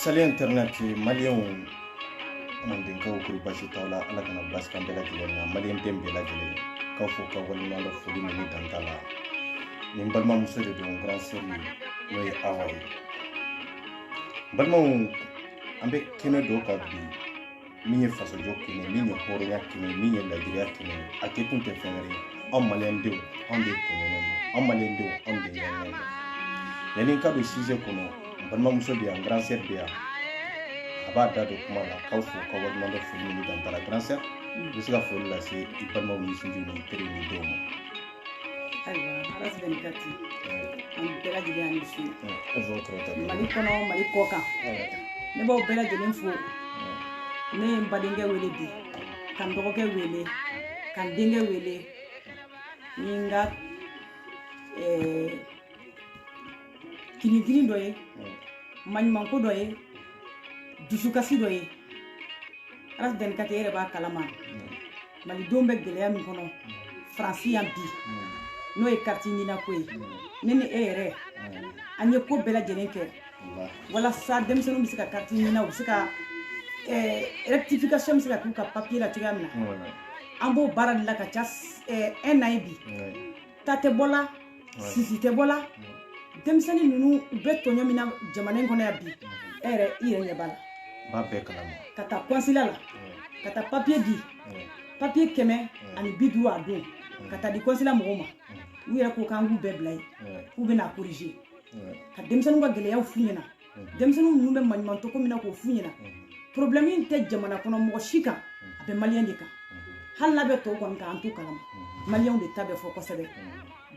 salut internet maliyɛnw mandenkaw kori basi t'aw la ala kana basi k'an bɛɛ lajɛlen na maliyɛn den bɛɛ lajɛlen k'aw fo k'aw waleɲumandɔn foli min dan t'a la nin balimamuso de don grande sœur n'o ye awa ye balimaw an bɛ kɛnɛ dɔ kan bi min ye fasojɔ kɛnɛ min ye hɔrɔnya kɛnɛ min ye lajiriya kɛnɛ a kɛ kun tɛ fɛn wɛrɛ ye anw maliyɛn denw anw de tɔɲɔgɔn don anw maliyɛn denw anw de ɲɔgɔn don yanni n ka don sujet kɔnɔ n balimamuso bɛ yan grande sœur bɛ yan a b'a da don kuma la k'aw fo k'aw waleɲumandɔn foli min dan t'a la grande sœur i bɛ se ka foli lase i balimaw ni sinjiw ni teriw ni denw ma ayiwa ras vingt quatre an bɛɛ lajɛlen ni su mali kɔnɔ mali kɔkan ne b'aw bɛɛ lajɛlen fo ne ye n badenkɛ wele bi ka n dɔgɔkɛ wele ka n denkɛ wele ni n ka kinikini dɔ ye maɲumanko dɔ ye dusukasi dɔ ye ras vingt quatre e yɛrɛ b'a kalama malidenw bɛ gɛlɛya min kɔnɔ faransi yan bi n'o ye kariti nina ko ye ne ni e yɛrɛ an ye ko bɛɛ lajɛlen kɛ walasa denmisɛnninw bɛ se ka kariti nina u bɛ se ka eh, rectification bɛ se ka k'u ka papiye la cogoya min na an b'o baara de la ka ca eh, un an ye bi ta tɛ bɔ la sisi tɛ bɔ la denmisɛnnin ninnu u bɛ tɔɲɔ min na jamana in kɔnɔ yan bi e yɛrɛ i yɛrɛ ɲɛ b'a la b'a bɛɛ kalama ka taa kɔnsila la ka taa papiye di papiye kɛmɛ ani bi duuru a don ka taa di kɔnsila mɔgɔw ma u yɛrɛ ko k'an k'u bɛɛ bila yen k'u bɛna korije ka denmisɛnninw ka gɛlɛyaw f'u ɲɛna denmisɛnninw ninnu bɛ maɲumantɔko min na k'o f'u ɲɛna problème in tɛ jamana kɔnɔ mɔgɔ si kan a bɛ maliyɛn de kan hali n'a bɛ tɔw kɔni kan an t'o kalama maliyɛnw de ta bɛ fɔ kosɛbɛ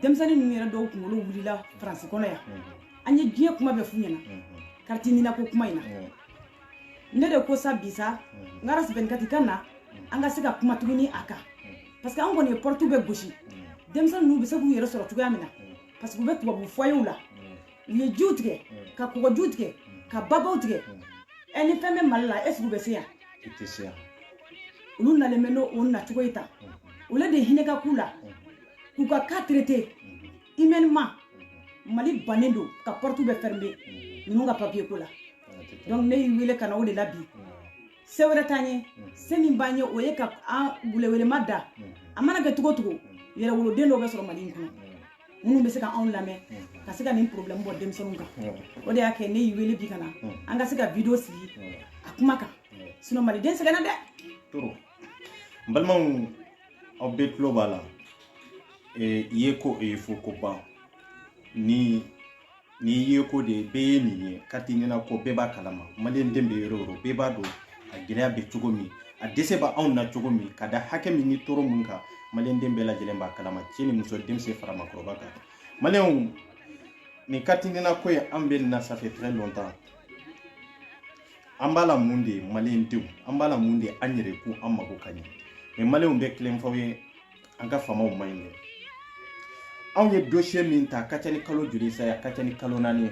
denmisɛnnin ninnu yɛrɛ dɔw kunkolo wulila faransi kɔnɔ yan an ye diɲɛ kuma bɛɛ f'u ɲɛna kariti ninako kuma in na ne de ko sa bi sa n ka ras vingt quatre ka na an ka se ka kuma tuguni a kan parce que an kɔni ye pɔrɔtu bɛɛ gosi denmisɛnnin ninnu bɛ se k'u yɛrɛ sɔrɔ cogoya min na parce que u bɛ tubabu fɔyew la u ye jiw tigɛ ka kɔgɔjiw tigɛ ka babaw tigɛ ɛ ni fɛn bɛ mali la est ce que u bɛ se yan u tɛ se yan olu nalen bɛ n'o nacogo ye tan olu de hinɛ ka k'u la k'u ka cas traiter humainement mali bannen don ka porte bɛɛ fermer ninnu ka papier ko la donc ne y'i wele ka na o de la bi se wɛrɛ t'an ye se min b'an ye o ye ka an welewelema da a mana kɛ cogo cogo yɛrɛwoloden dɔw bɛ sɔrɔ mali in kɔnɔ minnu bɛ se ka anw lamɛn mm-hmm. ka se ka nin problème bɔ denmisɛnninw kan mm-hmm. o de y'a kɛ ne y'i wele bi ka na mm-hmm. an ka se ka video sigi a kuma kan sinon maliden sɛgɛnna de trop n balimaw aw bɛɛ tulo b'a la i ye ko o ye fo ko ban ni ni ye ko de bɛɛ ye nin ye carte NINA ko bɛɛ b'a kalama maliyɛn den bɛ yɔrɔ o yɔrɔ bɛɛ b'a dɔn a gɛlɛya bɛ cogo min a dɛsɛ bɛ anw na cogo min ka da hakɛ min ni tɔɔrɔ min kan maliyɛn den bɛɛ lajɛlen b'a kalama cɛ ni muso denmisɛn fara maakɔrɔba kan maliyɛnw nin carte NINA ko ye an bɛ nin na ça fait très longtemps an b'a la mun de ye maliyɛn denw an b'a la mun de ye an yɛrɛ ko an mago ka ɲɛ mais maliyɛnw n bɛ tiɲɛ f'aw ye an ka faamaw man ɲi dɛ anw ye dosiye min ta a ka ca ni kalo joli sa ye a ka ca ni kalo naani ye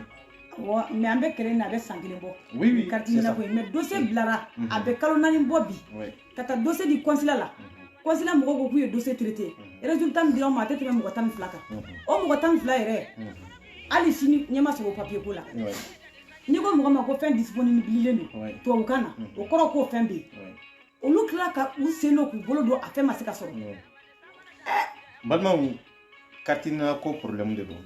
wa mais an bɛ kɛlɛ na a bɛ san kelen bɔ oui, oui, carte NINA ko ye mais dosiye bilara mm -hmm. a bɛ kalo naani bɔ bi oui. ka taa dosiye di kɔnsila la mm -hmm. kɔnsila mɔgɔw ko k'u ye dosiye traité mm -hmm. résultat min dira an ma a tɛ tɛmɛ mɔgɔ tan ni fila kan mm -hmm. o mɔgɔ tan ni fila yɛrɛ mm -hmm. hali sini ɲɛ ma sɔrɔ o papiye ko la oui. n'i ko mɔgɔ ma ko fɛn disponibililen don tubabukan na o kɔrɔ k'o fɛn bɛ yen olu tila ka u sen don k'u bolo don a fɛn ma se ka sɔrɔ balimaw carte NINA ko problème de don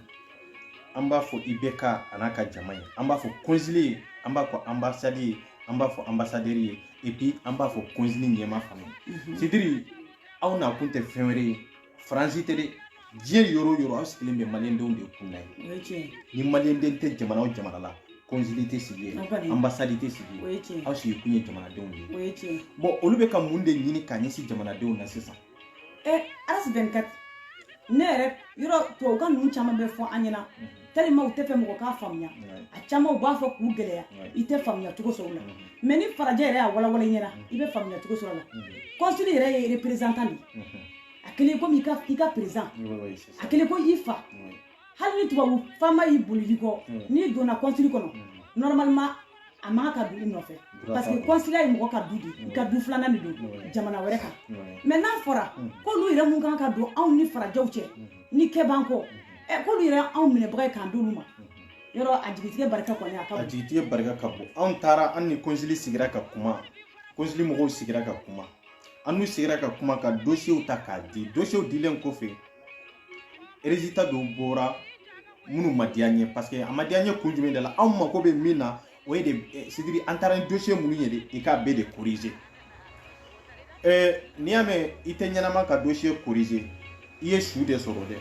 an b'a fɔ IBK a n'a ka jama ye an b'a fɔ konsili ye an b'a fɔ anbasadi ye an b'a fɔ anbasadɛri ye et puis an b'a fɔ konsili ɲɛma fana c'est-à-dire aw nakun tɛ fɛn wɛrɛ ye faransi tɛ dɛ diɲɛ yɔrɔ o yɔrɔ aw sigilen bɛ maliyɛndenw de kunna yen ni maliyɛnden tɛ jamana o jamana la kɔnsili tɛ sigi yen anbasadi tɛ sigi yen aw sigi kun ye jamanadenw de ye bon olu bɛ ka mun de ɲini k'a ɲɛsin jamanadenw na sisan Ras 24 ne yɛrɛ yɔrɔ tubabukan ninnu caman bɛ fɔ an ɲɛna tellement u t'a fɛ mɔgɔ k'a faamuya a caman u b'a fɔ k'u gɛlɛya i tɛ faamuya cogo sɔrɔ la mais ni farajɛ yɛrɛ y'a walawala i ɲɛna i bɛ faamuya cogo sɔrɔ la kɔnsili yɛrɛ ye représentant de a kɛlen komi i ka président a kɛlen ko i fa hali ni tubabu faama y'i bolilen kɔ n'i donna kɔnsili kɔnɔ normalement a man kan ka don i nɔfɛ parce que kɔnsila ye mɔgɔ ka du de i ka du filanan de don jamana wɛrɛ kan mais n'a fɔra k'olu yɛrɛ min ka kan ka don anw ni farajɛw cɛ ni kɛ b'an kɔ k'olu yɛrɛ anw minɛbaga ye k'an d'olu ma yɔrɔ a jigitigɛ barika kɔni a ka bon a jigitigɛ barika ka bon anw taara an ni kɔnsili sigira ka kuma kɔnsili mɔgɔw sigira ka kuma an n'u sigira ka kuma ka dosiyew ta k'a di dosiyew dilen kɔfɛ résultat dɔw bɔra minnu ma diya n ye parce que a ma diya n ye kun jumɛn de la anw mako bɛ min na o ye de eh, c'est-à-dire an taara ni dosiye minnu ye de i k'a bɛɛ de korize eh, n'i y'a mɛn i tɛ ɲɛnama ka dosiye korize i ye su de sɔrɔ dɛ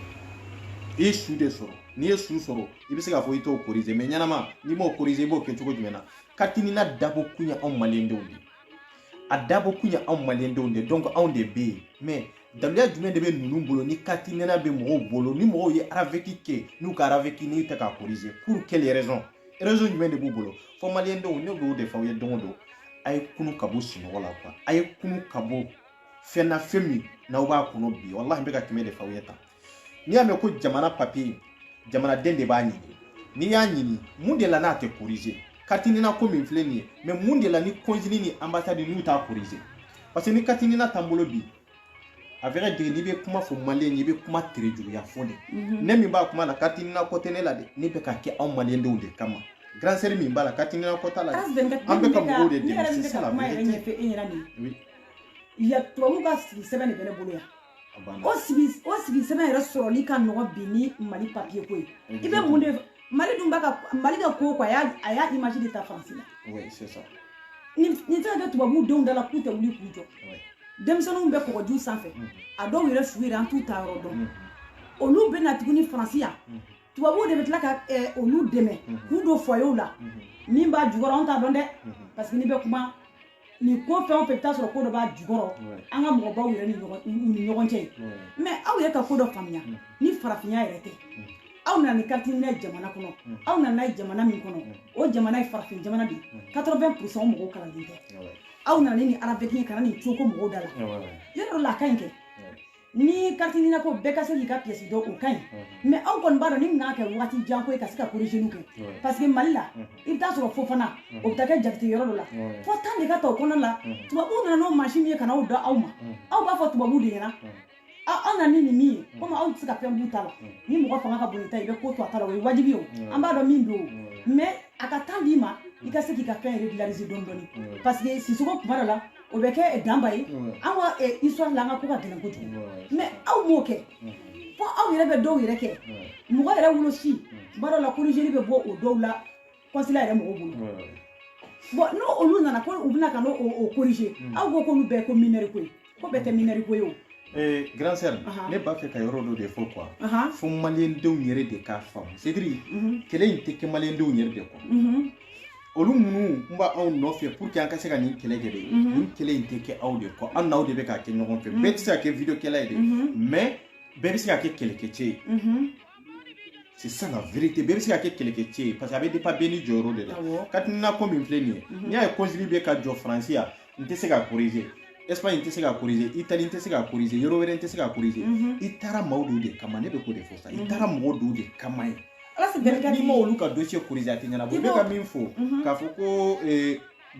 i ye su de sɔrɔ n'i ye su sɔrɔ i bɛ se k'a fɔ i t'o korize mais ɲɛnama n'i m'o korize i b'o kɛ cogo jumɛn na carte NINA dabɔ kun ye anw maliyɛndenw de ye a dabɔ kun ye anw maliyɛndenw de donc anw de bɛ yen mais daluya jumɛn de bɛ ninnu bolo ni katinina bɛ mɔgɔw bolo ni mɔgɔw ye araveki kɛ n'u ka araveki n'u tɛ k'a corriger pour quelle raison raison jumɛn de b'u bolo fo maliyɛndenw ne b'o de fɔ aw ye don o don a ye kunu ka bɔ sunɔgɔ la quoi a ye kunu ka bɔ fɛn na fɛn min n'aw b'a kɔnɔ bi walahi n bɛ ka kɛmɛ de fɔ aw ye tan n'i y'a mɛn ko jamana papier jamanaden de b'a ɲini n'i y'a ɲini mun de la n'a tɛ corriger katinina ko min filɛ nin ye mais mun de la ni consul ni ambassade n'u t'a corriger parce que ni katinina t'an bolo bi à vrai dire n'i bɛ kuma fɔ maliyɛn ye i bɛ kuma tere juguya fɔ de mhm. ne min b'a kuma na katinina ko tɛ ne la dɛ ne bɛ ka kɛ anw maliyɛndenw de kama grand sœur min b'a la katinina ko t'a la an bɛ ka mɔgɔw de dɛmɛ c'est ça la vérité il y a tubabu ka sigi sɛbɛn de bɛ ne bolo yan o sigi o sigi sɛbɛn yɛrɛ sɔrɔli ka nɔgɔ bi ni mali papier ko ye i bɛ mun de mali dun b'a ka mali ka ko quoi a y'a a y'a image de ta faransi la nin tɛ ka kɛ tubabu denw da la k'u tɛ wuli k'u jɔ denmisɛnninw bɛ kɔgɔji sanfɛ a dɔw yɛrɛ su yɛrɛ an t'u taa yɔrɔ dɔn olu bɛ na tuguni faransi yan tubabuw de bɛ tila ka olu dɛmɛ k'u don foyerw la min b'a jukɔrɔ an t'a dɔn dɛ parce que n'i bɛ kuma nin ko fɛn o fɛn i bɛ taa sɔrɔ ko dɔ b'a jukɔrɔ an ka mɔgɔbaw yɛrɛ ni ɲɔgɔn cɛ mais aw yɛrɛ ka ko dɔ faamuya ni farafinya yɛrɛ tɛ aw nana ni katinina ye jamana kɔnɔ aw nana n'a ye jamana min kɔnɔ o jamana ye farafin jamana de ye quatre-vingts pour cent mɔgɔw kalanden tɛ aw nana ni araveki ye ka na nin coko mɔgɔw da la yɔrɔ la a ka ɲi kɛ ni katinina ko bɛɛ ka se k'i ka pièce dɔn o ka ɲi mais aw kɔni b'a dɔn nin bɛna kɛ wagati jan ko ye ka se ka corrigeli kɛ parce que mali la i bɛ taa sɔrɔ fofana o bɛ taa kɛ jakite yɔrɔ dɔ la fo temps de ka ta o kɔnɔ la tubabuw nana n'o mansin min ye ka n'aw da aw ma aw b'a fɔ tubabuw de ɲɛna aw nana ni nin min ye komi aw tɛ se ka fɛn b'u ta la ni mɔgɔ fanga ka bon i ta i bɛ ko to a ta la o ye wajibi ye o an b'a dɔn min don o mais a ka temps d'i ma i ka se k'i ka fɛn régulariser dɔɔni dɔɔni parce que sisoko kuma dɔ la o bɛ kɛ danba ye an ka histoire la an ka ko ka gɛlɛn kojugu mais aw m'o kɛ fo aw yɛrɛ bɛ dɔw yɛrɛ kɛ mɔgɔ yɛrɛ wolosi b'a dɔ la corrigeli bɛ bɔ o dɔw la consulat yɛrɛ mɔgɔw bolo bon n'o olu nana ko u bɛna ka n'o corriger aw ko k'olu bɛɛ ko minɛri ko ye ko bɛɛ tɛ minɛri ko ye o grand sœur ne b'a fɛ ka yɔrɔ dɔ de fɔ quoi fo maliyɛndenw yɛrɛ de k'a faamu c'est-à-dire kɛlɛ in tɛ kɛ maliyɛndenw yɛrɛ de kɔ olu minnu n b'aw nɔfɛ pour que an ka se ka nin kɛlɛ kɛ de nin kɛlɛ in tɛ kɛ aw de kɔ an n'aw de bɛ k'a kɛ ɲɔgɔn fɛ bɛɛ tɛ se ka kɛ video kɛla ye de mais bɛɛ bɛ se ka kɛ kɛlɛkɛcɛ ye c'est ça la vérité bɛɛ bɛ se ka kɛ kɛlɛkɛcɛ ye parce que a bɛ dépend bɛɛ n'i jɔyɔrɔ de la katinina ko min filɛ nin ye n'i y'a ye consul bɛ ka jɔ faransi yan n tɛ se ka corriger Espagne n tɛ se ka corriger Italie n tɛ se ka corriger yɔrɔ wɛrɛ n tɛ se ka corriger i taara maaw dɔw de kama ne bɛ k'o de fɔ sa i taara mɔgɔ dɔw de kama ye n'i ma olu ka dossier corriger a tɛ ɲɛnabɔ i bɛ ka min fɔ k'a fɔ ko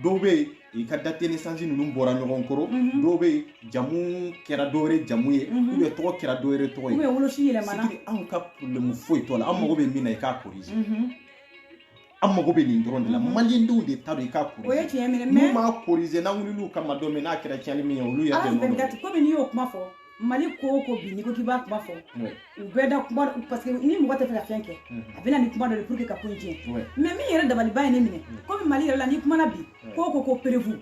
dɔw bɛ yen i ka date de naissance ninnu bɔra ɲɔgɔn kɔrɔ dɔw bɛ yen jamu kɛra dɔ wɛrɛ jamu ye ou bien tɔgɔ kɛra dɔ wɛrɛ tɔgɔ ye ou bien wolosi yɛlɛmana anw ka problème foyi t'o la an mago bɛ min na i k'a corriger an mago bɛ nin dɔrɔn de la mhm. malidenw de ta don i k'a corriger o ye tiɲɛ minɛ mais n'u m'a corriger n'an wulil'u kama don min n'a kɛra cɛnli min ye olu yɛrɛ de nɔ don komi n'i y'o kuma fɔ mali ko o ko bi n'i ko k'i b'a kuma fɔ u bɛɛ da kuma parce que ni mɔgɔ tɛ fɛ ka fɛn kɛ mhm. a bɛ na ni kuma dɔ de pour que ka ko in tiɲɛ mais min yɛrɛ dabaliban ye ne minɛ mhm. komi mali yɛrɛ la n'i kumana bi ko o ko ko preuve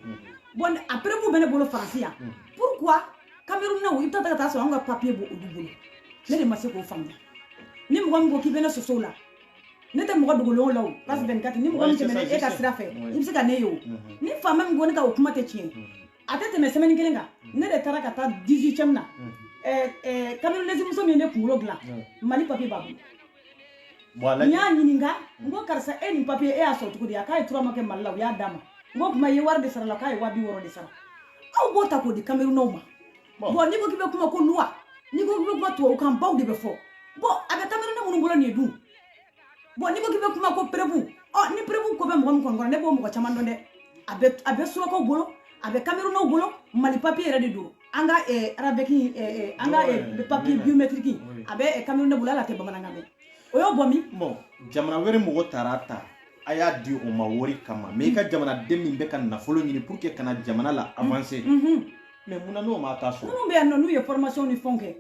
bon a preuve bɛ ne bolo faransi yan pourquoi kamerunnaw i bɛ taa ka taa sɔrɔ anw ka papiye b'olu bolo ne de ma se k'o faamuya ni mɔgɔ min ko k'i bɛ ne sɔsɔ o la ne tɛ mɔgɔ dogolenw la o place 24 ni mɔgɔ min tɛmɛna e ka sira fɛ i bɛ se ka ne ye o ni faama min ko ne ka o kuma tɛ tiɲɛ a tɛ tɛmɛ semaine kelen kan ne de taara ka taa 18ème na camerounaise muso min ye ne kunkolo dilan mali papier b'a bolo n y'a ɲininka n ko karisa e nin papier e y'a sɔrɔ cogo di a k'a ye trois mois kɛ mali la u y'a d'a ma n ko kuma i ye wari de sara la k'a ye waa bi wɔɔrɔ de sara aw b'o ta k'o di camerounais ma bon n'i ko k'i bɛ kuma ko loi n'i ko k'i bɛ kuma tubabukan baw de bɛ fɔ bon a bɛ camerounais minnu bolo nin ye dun bon n'i ko k'i bɛ kuma ko preuve ɔ ni preuve ko bɛ mɔgɔ min kɔni kɔnɔ ne b'o mɔgɔ caman dɔn dɛ a bɛ a bɛ surakaw bolo a bɛ kamerunnaw bolo mali papiye yɛrɛ de don an ka eh, RAVEC eh, eh, an ka papiye biométrique a bɛ camerounais bolo ale tɛ bamanankan mɛn o y'o bɔ min bon jamana wɛrɛ mɔgɔ taara ta a y'a di o ma wari kama mais i ka jamanaden min bɛ ka nafolo ɲini pour que ka na jamana la avancer mais mun na n'o ma taa so minnu bɛ yan nɔ n'u ye formation ni fɛnw kɛ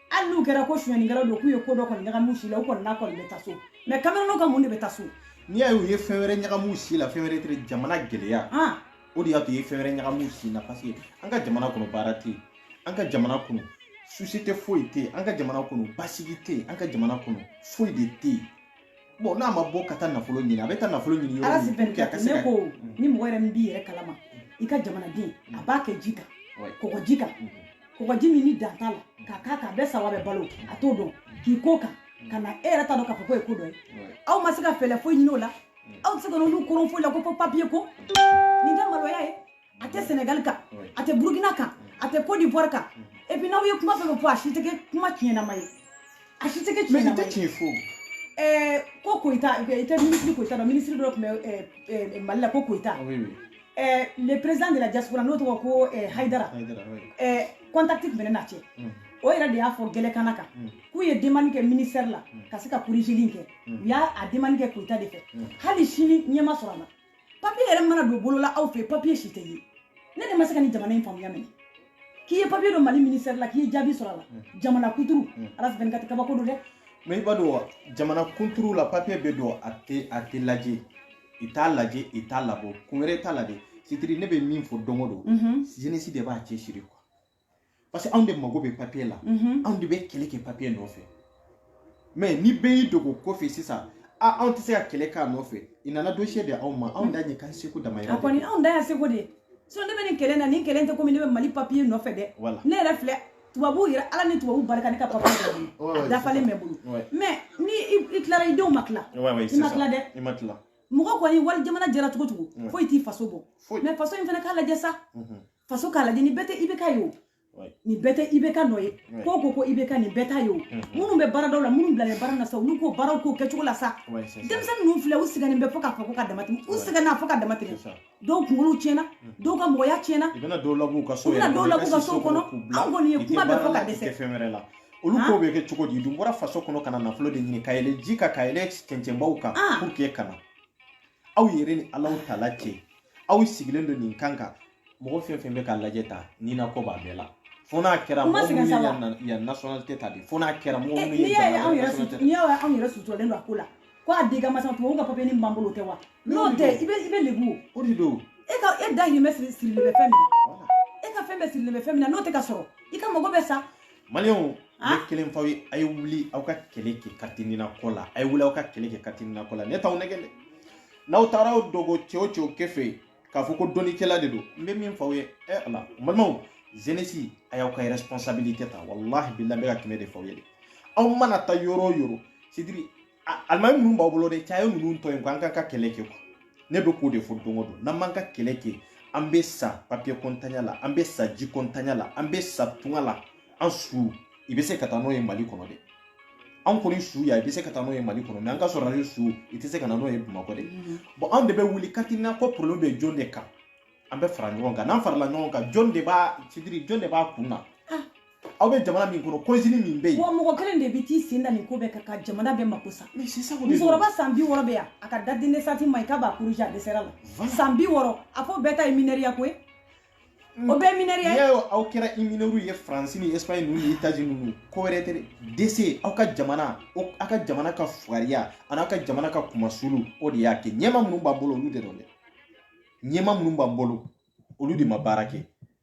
hali n'u kɛra ko sonyɛnikɛlaw don k'u ye ko dɔ kɔni ɲagam'u si la u kɔni n'a kɔni bɛ taa so mais camerounais ka mun de bɛ taa so n'i y'a ye u ye fɛn wɛrɛ ɲagam'u si la fɛn wɛrɛ tɛ jamana gɛlɛya han o de y'a to u ye fɛn wɛrɛ ɲagam'u si la parce que an ka jamana kɔnɔ baara tɛ yen an ka jamana kɔnɔ société foyi tɛ yen an ka jamana kɔnɔ basigi tɛ yen an ka jamana kɔnɔ foyi de tɛ yen bon n'a ma bɔ ka taa nafolo ɲini a bɛ taa nafolo ɲini yɔrɔ min pour que a ka se ka ne ko ni mɔgɔ yɛrɛ min b'i yɛrɛ kalama i ka jamanaden a mm. b'a kɛ ji kan kɔgɔji kan mm-hmm. kɔgɔji min ni dan t'a la k'a k'a kan a bɛ sa wa a bɛ balo a t'o dɔn k'i ko kan mm. ka na e yɛrɛ t'a dɔn k'a fɔ k'o ye ko dɔ ye aw ma se ka fɛɛlɛ foyi ɲini o la mm. aw tɛ se ka n'olu koron foyi la ko fo papiye ko nin tɛ maloya ye a tɛ sɛnɛgali kan a tɛ burukina kan a tɛ côte d'ivoire kan et puis n'aw ye kuma fɛn fɛn fɔ a si tɛ kɛ kuma tiɲɛnama ye a si tɛ kɛ tiɲɛnama ye ɛɛ ko koyita i tɛ minisiri koyita dɔn minisiri dɔ tun bɛ mali la ko koyita ɛɛ le président de la diaspora n'o tɔgɔ ko hayidara ɛɛ contact tun bɛ ne n'a cɛ o yɛrɛ de y'a fɔ gɛlɛkana kan k'u ye demande kɛ ministère la ka se ka corrigeli kɛ u y'a demande kɛ koyita de fɛ hali sini ɲɛ ma sɔrɔ a la papiye yɛrɛ mana don bolo la aw fɛ papiye si tɛ ye ne de ma se ka nin jamana in faamuya minɛ k'i ye papiye don mali ministɛri la k'i ye jaabi sɔrɔ a la mm. jamana kunturu mm. ala fɛn ka tɛ kabako don dɛ mɛ i b'a dɔn wa jamana kunturu la papiye bɛ don a tɛ a tɛ lajɛ i t'a lajɛ i t'a labɔ kun wɛrɛ t'a la dɛ c'est-à-dire ne bɛ min fɔ don o don jeunesse de b'a cɛsiri quoi parce que anw de mago bɛ papiye la mhm. anw de bɛ kɛlɛ kɛ papiye nɔfɛ mɛ ni bɛɛ y'i dogo kɔfɛ sisan a anw tɛ se ka kɛlɛ k'a nɔfɛ i nana dosiye de anw ma anw dan ye k'an seko damayira a kɔni anw dan y'an seko de sinon ne bɛ nin kɛlɛ na nin kɛlɛ tɛ komi ne bɛ mali papiye nɔfɛ dɛ ne yɛrɛ filɛ tubabuw yɛrɛ ala ni tubabuw barika ne ka papiye dɔ bolo a dafalen bɛ n bolo mɛ ni i tilara i denw ma tila i ma tila dɛ i ma tila mɔgɔ kɔni wali jamana diyara cogo cogo foyi t'i faso bɔ mɛ faso in fana k'a lajɛ sa faso k'a lajɛ nin bɛɛ tɛ IBK ye o nin bɛɛ tɛ IBK nɔ ye ko ko ko IBK nin bɛɛ t'a ye o minnu bɛ baaradaw la minnu bilalen baara na sa olu k'o baaraw k'o kɛcogo la sa denmisɛnnin ninnu filɛ u sɛgɛnnen bɛ fo k'a fɔ ko ka dama tɛmɛ u sɛgɛnna fo ka dama tɛmɛ dɔw kunkolow tiɲɛna dɔw ka mɔgɔya tiɲɛna u bɛna dɔw lab'u ka so yɛrɛ dɔw lab'u ka so kɔnɔ an kɔni ye kuma bɛɛ fɔ ka dɛsɛ olu ko bɛ kɛ cogo di dun bɔra faso kɔnɔ ka na nafolo de ɲini ka yɛlɛ ji kan ka yɛlɛ cɛncɛnbaw kan pour que kana aw yɛrɛ ni ala taala cɛ aw sigilen don nin kan kan mɔgɔ fɛn fɛn bɛ k'a lajɛ tan nina ko b'a bɛɛ la fo n'a kɛra mɔgɔ minnu ye yan yan nationalité ta de fo n'a kɛra mɔgɔ minnu ye jamana nationalité ta n'i y'a ye anw yɛrɛ suturalen don a ko la ko a di ka masa tubabu ka papiye nin b'an bolo o tɛ wa n'o tɛ i bɛ i bɛ lebu o de don e ka e dahirimɛ siri sirilen bɛ fɛn min na e ka fɛn bɛɛ sirilen bɛ fɛn min na n'o tɛ ka sɔrɔ i ka mago bɛ sa maliw ne kelen f'aw ye a ye wuli aw ka kɛlɛ kɛ carte nina ko la a ye wuli aw ka kɛlɛ kɛ carte nina ko la ne t'aw nɛgɛ dɛ n'aw taara aw dogo cɛ o cɛ kɔfɛ yen k'a fɔ ko dɔnnikɛla de don n bɛ min f'aw ye ɛ ala balimaw jeunesse a y'aw ka responsabilité ta walahi bilahi n bɛ ka kɛmɛ de f'aw ye dɛ aw mana taa yɔrɔ o yɔrɔ c'est-à-dire alimami minnu b'aw bolo dɛ cɛ a ye ninnu to yen ko an k'an ka kɛlɛ kɛ quoi ne bɛ k'o de fɔ don o don n'an m'an ka kɛlɛ kɛ an bɛ sa papiye ko ntanya la an bɛ sa ji ko ntanya la an bɛ sa tunga la an su i bɛ se ka taa n'o ye mali kɔnɔ dɛ an kɔni su ya i bɛ se ka taa n'o ye mali kɔnɔ mɛ an ka sɔrɔ su i tɛ se ka na n'o ye bamakɔ dɛ mm-hmm. bɔn an de bɛ wuli carte nina ko problème bɛ jɔn de kan an bɛ fara ɲɔgɔn kan n'an farala ɲɔgɔn kan jɔn de b'a c'est-à-dire jɔn de b'a kun na aw bɛ jamana min kɔnɔ kɔnsili min bɛ yen wa mɔgɔ kelen de bɛ t'i sen da nin ko bɛɛ kan ka jamana bɛɛ mako sa musokɔrɔba san bi wɔɔrɔ bɛ yan a ka date de naissance ma ɲi k'a b'a corriger a dɛsɛra la san bi wɔɔrɔ a fɔ bɛɛ ta ye minɛriya ko ye mm. o bɛɛ minɛriya ye n'i y'a ye aw kɛra minɛriw ye faransi ni espagne ninnu ni etazini ninnu ko wɛrɛ tɛ dɛ c'est aw ka jamana aw ka jamana ka fugariya an'aw ka jamana ka kumasulu o de y'a kɛ ɲɛmaa minnu b'an bolo olu de don dɛ ɲɛmaa minnu b'an bolo olu de ma baara kɛ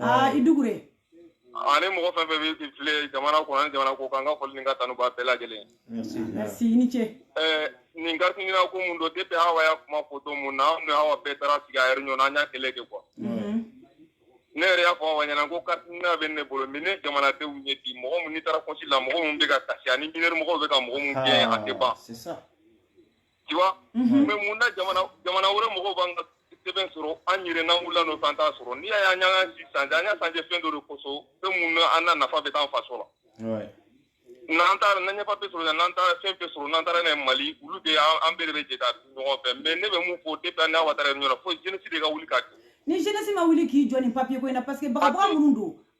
aa i dukure ani mɔgɔ fɛn fɛn bɛ filɛ jamana kɔnɔ ani jamana kɔkan n ka foli ni n ka tanu b'a bɛɛ lajɛlen merci i ni ce ɛɛ nin carte nina ko mun don depuis awa y'a kuma fɔ don mun na anw ni awa bɛɛ taara sigi a réunion na an y'a kɛlɛ kɛ quoi ne yɛrɛ y'a fɔ awa ɲɛna ko carte nina bɛ ne bolo mais ne jamanadenw ɲɛ bi mɔgɔ mun n'i taara consulat mɔgɔ mun bɛ ka kasi ani mineur mɔgɔw bɛ ka mɔgɔ mun gɛn a tɛ ban tu vois mhm. mais mun na jamana jamana wɛrɛ mɔgɔw b'an ka sɛbɛn sɔrɔ an yɛrɛ n'an wulila nɔfɛ an t'a sɔrɔ n'i y'a ye an y'an si changer an y'a changer fɛn dɔ de kosɔn fɛn mun na an na nafa bɛ t'an faso la n'an taara n'an ye papier sɔrɔ n'an taara fɛn fɛn sɔrɔ n'an taara n'a ye mali olu de an bɛɛ de bɛ jɛ ka ɲɔgɔn fɛ mais ne bɛ mun fɔ depuis an n'awa taara réunion na fo jeunesse de ka wuli ka jɔ ni jeunesse ma wuli k'i jɔ nin papier ko in na parce que bagabaga minnu don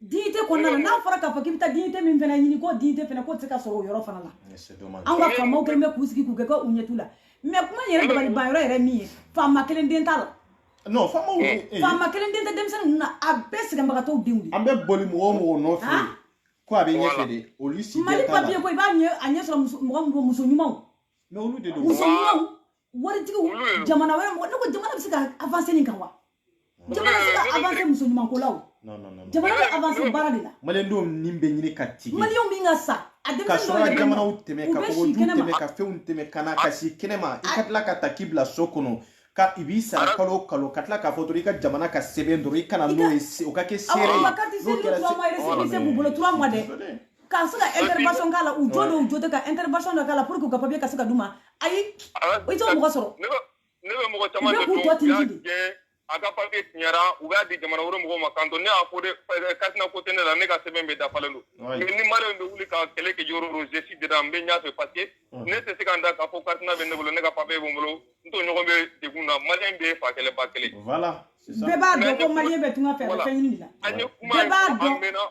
dignité kɔnɔna na n'a fɔra k'a fɔ k'i bɛ taa dignité min fana ɲini ko dignité fana k'o tɛ se ka sɔrɔ o yɔrɔ fana la anw ka faamaw kɛlen bɛ k'u sigi k'u kɛ ko u ɲɛ t'u la mais kuma in yɛrɛ dabaliban yɔrɔ yɛrɛ min ye faama kelen den t'a la non faamaw faama kelen den tɛ denmisɛnnin ninnu na a bɛɛ sɛgɛnbagatɔw denw de an bɛ boli mɔgɔ o mɔgɔ nɔfɛ ko a bɛ ɲɛfɛ de olu si tɛ t'a la mali papier ko i b'a ɲɛ a ɲɛ sɔrɔ mɔgɔ mɔgɔ muso ɲumanw mais olu de don muso ɲumanw waritigi jamana wɛrɛ mɔgɔ ne ko jamana bɛ se ka avancer nin kan wa jamana bɛ se ka avancer muso ɲumanko la o jamana bɛ avancer baara de la maliyɛndenw ni bɛ ɲini ka tigɛ maliyɛnw min ka sa a denmisɛnnin dɔw yɛrɛ jamanaw tɛmɛ ka kɔgɔji tɛmɛ ka fɛnw tɛmɛ ka na ka si kɛnɛma i ka tila ka ta k'i bila so kɔnɔ ka i b'i sara kalo o kalo ka tila k'a fɔ dɔrɔn i ka jamana ka sɛbɛn dɔrɔn i kana n'o ye o ka kɛ seere ye n'o kɛra récépissé b'u bolo trois mois dɛ ka se ka intervention k'a la u jɔ dɔw jɔ tɛ ka intervention dɔ k'a la pour que u ka papier ka se ka d'u ma ayi o tɛ mɔgɔ sɔrɔ ne bɛ mɔgɔ caman de dɔn u y'a gɛn a ka papier tiɲɛra u b'a di jamana wɛrɛ mɔgɔw ma k'an to ne y'a fɔ dɛ carte nina ko tɛ ne la ne ka sɛbɛn bɛɛ dafalen don mais ni maliyɛn bɛ wuli ka kɛlɛ kɛ yɔrɔ o je suis dedans n bɛ ɲɛfɛ parce que ne tɛ se ka n da k'a fɔ carte nina bɛ ne bolo ne ka papier bɛ n bolo n tɔɲɔgɔn bɛ degun na maliyɛn bɛɛ fa kelen ba kelen bɛɛ b'a dɔn ko maliyɛn bɛ tunga fɛ a bɛ fɛn ɲini de la bɛɛ b'a dɔn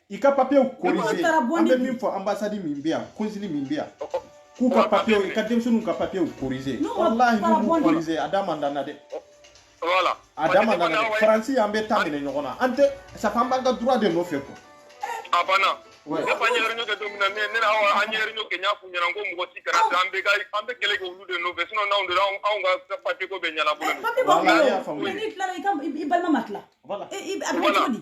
i ka papiyew corrigé an bɛ min fɔ ambassade min bɛ yan consul min bɛ yan k'u ka papiyew i ka denmisɛnninw ka papiyew corrigé walahi n'u m'u corrigé a da man d'an na dɛ voilà a da man d'an na dɛ faransi an bɛ taa minɛ ɲɔgɔn na an tɛ safa an b'an ka droit de nɔfɛ quoi a banna ne fa an ye réunion kɛ don min na ne ni awa an ye réunion kɛ n y'a f'u ɲɛna n ko mɔgɔ si kana taa an bɛ ka an bɛ kɛlɛ kɛ olu de nɔfɛ sinon n'anw donna anw anw ka papier ko bɛ ɲɛnabɔ dɛ. papier ko bɛ ɲɛnabɔ n'i tilala i ka i balima ma tila. voilà a bɛ kɛ cogo di.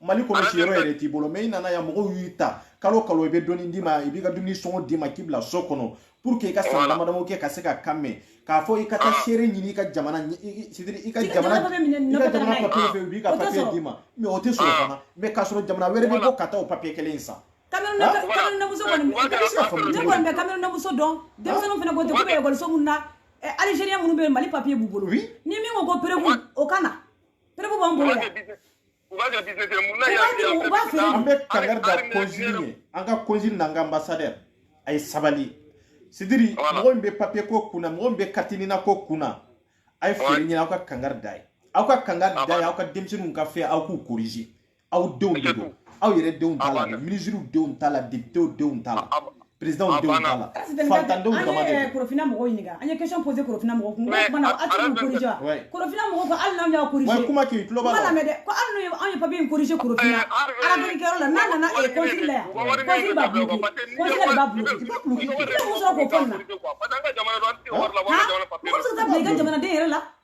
mali kɔnɔ siyɔrɔ yɛrɛ t'i bolo mais i nana yan mɔgɔw y'i ta kalo kalo i bɛ dɔɔni d'i ma i b'i ka dumuni sɔngɔ d'i ma k'i bila so kɔnɔ pour que i ka san damadamaw kɛ ka se ka kan mɛn k'a fɔ i ka taa seere ɲini i ka jamana c'est-à-dire i ka jamana i ka jamana papier fɛ u b'i ka papier d'i ma mais o tɛ sɔrɔ fana mais k'a sɔrɔ jamana wɛrɛ bɛ bɔ ka taa o papier kelen in san kamerunnamuso kɔni ne kɔni bɛ kamerunnamuso dɔn denmisɛnninw fana ko ten ko bɛ ekɔliso minnu na alizeriyɛn minnu bɛ yen mali papier b'u bolo ni min ko ko preuve o ka na preuve b'an bolo yan U b'a kɛ business ye, mun na yan fɛ yan U b'a feere, an bɛ kankari da consul ye, an ka consul n'an ka ambassadeur a ye sabali. C'est-à-dire, mɔgɔ min bɛ papier ko kun na, mɔgɔ min bɛ carte NINA ko kun na, a ye fɛɛrɛ ɲini aw ka kankari d'a ye. Aw ka kankari d'a ye, aw ka denmisɛnninw ka fɛn aw k'u corriger. Aw denw de don, aw yɛrɛ denw t'a la, ministres denw t'a la, députés denw t'a la. président ah, denw t'a la faantandenw dama de don korofina mɔgɔw ɲininka an ye question posé korofina mɔgɔw kun ko mun na a tɛ corrigé wa korofina mɔgɔw ko hali n'anw y'a corrigé wa kuma k'i tulo b'a la kuma lamɛn dɛ ko hali n'anw ye papier in corrigé korofina ravec kɛyɔrɔ la n'a nana ee consul la yan consul b'a bloqué consul de b'a bloqué i b'a bloqué i bɛ mun sɔrɔ k'o fɔ nin na mɔgɔ bɛ se ka taa bila i ka jamanaden yɛrɛ la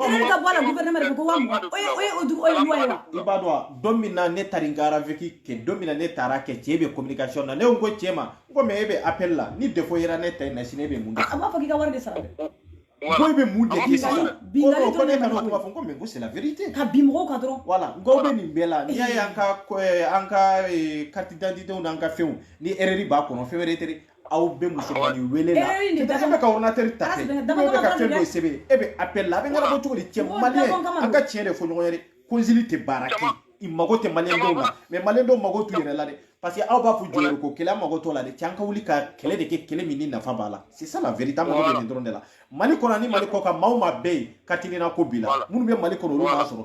Erreur ka bɔ a la gouvernement de ko ko waa mugan o ye o ye o du o ye loi ye wa i b'a dɔn wa don min na ne taara n ka ravec kɛ don min na ne taara kɛ cɛ bɛ communication na ne ko n ko cɛ ma n ko mais e bɛ appel la ni défaut yera ne ta in na sini e bɛ mun kɛ a b'a fɔ k'i ka wari de sara dɛ ko e bɛ mun de kɛ sisan ko Bingali non, ko dɔrɔn ne de ka na o b'a kuma fɔ. fɔ n ko mais n ko c'est la vérité ka bin mɔgɔw kan dɔrɔn voilà n ko aw bɛ nin bɛɛ la n'i y'a ye an ka ko- eh, an ka eh, carte d'identité n'an ka fɛnw ni erreur b'a kɔnɔ fɛn wɛrɛ tɛ dɛ aw bɛ musomannin wele la e bɛ ka ordinateur ta kɛ ou bien e bɛ ka fɛn dɔ sɛbɛn e bɛ appel la a bɛ ɲɛnabɔ cogo di cɛ maliyɛn an ka tiɲɛ de fɔ ɲɔgɔn ye dɛ consul tɛ baara kɛ i mago tɛ maliyɛn dɔw la mais maliyɛn dɔw mago t'u yɛrɛ la dɛ parce que aw b'a fɔ jɔyɔrɔ ko kɛlɛ an mago t'o la dɛ cɛ an ka wuli ka kɛlɛ de kɛ kɛlɛ min ni nafa b'a la c'est ça la vérité an mago bɛ nin dɔrɔn de la mali kɔnɔ ani mali kɔ kan maa o maa bɛ yen carte NINA ko b'i la minnu bɛ mali kɔnɔ olu b'a sɔrɔ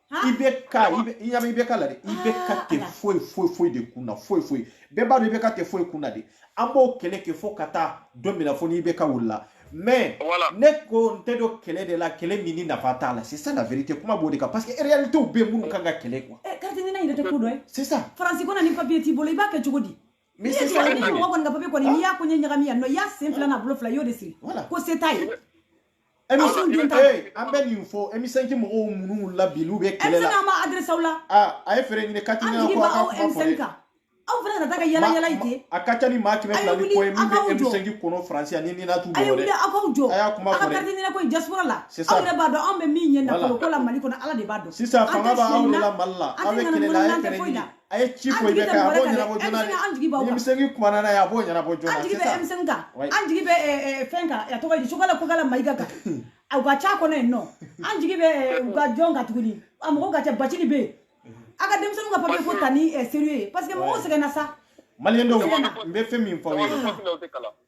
IBK i bɛ ɲami IBK la dɛ IBK tɛ foyi foyi foyi de kun na foyi foyi bɛɛ b'a dɔn IBK tɛ foyi kun na de an b'o kɛlɛ kɛ fo ka taa don min na fo ni IBK wulila mais ne ko n tɛ don kɛlɛ de la kɛlɛ min ni nafa t'a la c'est ça la vérité kuma b'o de kan parce que réalité bɛ minnu kan ka kɛlɛ quoi. ɛ carte NINA yɛrɛ tɛ ko dɔ ye. c'est ça. faransi kɔnɔ ni papier t'i bolo i b'a kɛ cogo di. Mais c'est ça ni mɔgɔ kɔni ka papier kɔni n'i y'a ko ɲɛ ɲagami yan nɔ i y'a sen fila n'a bolo fila i y'o de siri ko se t'a ye an bɛ nin fɔ M5 mɔgɔw minnu la bi n'u bɛ kɛlɛ la n b'a adresser aw la a ye fɛɛrɛ ɲini ka kan aw fana kana taa ka yaala yaala ten a ka ca ni maa kɛmɛ fila ni kɔ ye min bɛ M5 kɔnɔ faransi yan NINA t'u bolo dɛ aw k'aw jɔ a y'a kuma fɔ dɛ a ka carte NINA ko in diaspora la aw yɛrɛ b'a dɔn anw bɛ min ɲɛ nafolo ko la mali kɔnɔ ala de b'a dɔn sisan fanga b'aw de la mali la aw bɛ kɛlɛ la a ye fɛɛrɛ ɲini a ye ci fɔ IBK ye a b'o ɲɛnabɔ joona dɛ an jigi b'aw kan ni M5 kumana n'a ye a b'o ɲɛnabɔ joona an jigi bɛ M5 kan an jigi bɛ fɛn kan a tɔgɔ ye di Choguel Kokalla Maïga kan u ka ca kɔnɔ yen nɔ an jigi bɛ u ka jɔn kan tuguni a mɔgɔw ka ca Bathily bɛ yen a ka denmisɛnninw ka papier ko ta ni sérieux ye parce que mɔgɔw sɛgɛnna sa maliyɛn dɔw n bɛ fɛn min fɔ aw ye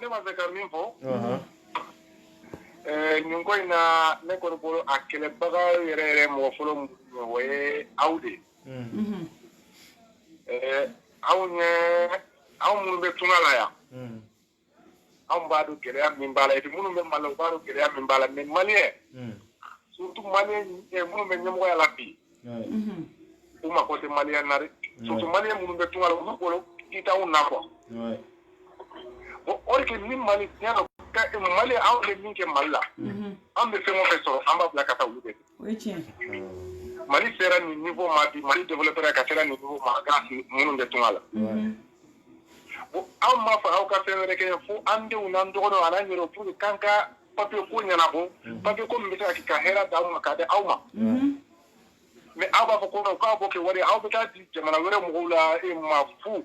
ne b'a fɛ ka min fɔ nin ko in na ne kɔni bolo a kɛlɛbaga yɛrɛ yɛrɛ mɔgɔ fɔlɔ min ye o ye aw de ye aw ye aw minnu bɛ tunga la yan anw b'a dɔn gɛlɛya min b'a la et puis minnu bɛ Mali la u b'a dɔn gɛlɛya min b'a la mais maliyɛn hmm. surtout maliyɛn eh, minnu bɛ ɲɛmɔgɔya la bi mhm. u mako tɛ maliyɛn na dɛ surtout maliyɛn minnu bɛ tunga la olu bolo i t'anw na quoi bon or que ni Mali tiɲɛ don Mali anw bɛ min kɛ Mali la mhm. an bɛ fɛn o fɛn sɔrɔ an b'a bila ka taa olu de o ye tiɲɛ mali sera nin niveau ma bi mali développera ka sera nin niveau ma grâce minnu bɛ tunga la anw m'a fɔ aw ka fɛn wɛrɛ kɛ fo an denw n'an dɔgɔninw ani an yɛrɛw pour que k'an ka papier ko ɲɛnabɔ papier ko min bɛ se ka kɛ ka hɛrɛ d'aw ma k'a di aw ma mais aw b'a fɔ ko k'aw b'o kɛ wari aw bɛ taa di jamana wɛrɛ mɔgɔw de ma fu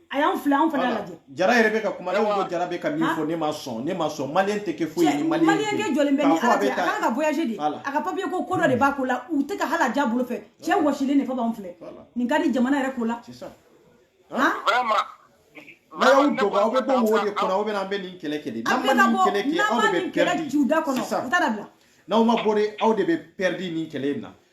a y'an filɛ anw fana lajɛ jara yɛrɛ bɛ ka kuma ne ko jara bɛ ka min fɔ ne ma sɔn ne ma sɔn maliyɛn tɛ kɛ foyi ye maliyɛn kɛ jɔlen bɛ ni ala cɛ a kan ka voyager de a ka papier ko ko dɔ de b'a ko la u tɛ ka hali a diya bolo fɛ cɛ wɔsilen de fɔ b'anw filɛ nin ka di jamana yɛrɛ ko la n'a y'aw dogo aw bɛ bɔ wo de kɔnɔ aw bɛ na an bɛ nin kɛlɛ kɛ de n'an ma nin kɛlɛ kɛ aw de bɛ pɛridi sisan n'aw ma bɔ de aw de bɛ pɛridi nin kɛlɛ in na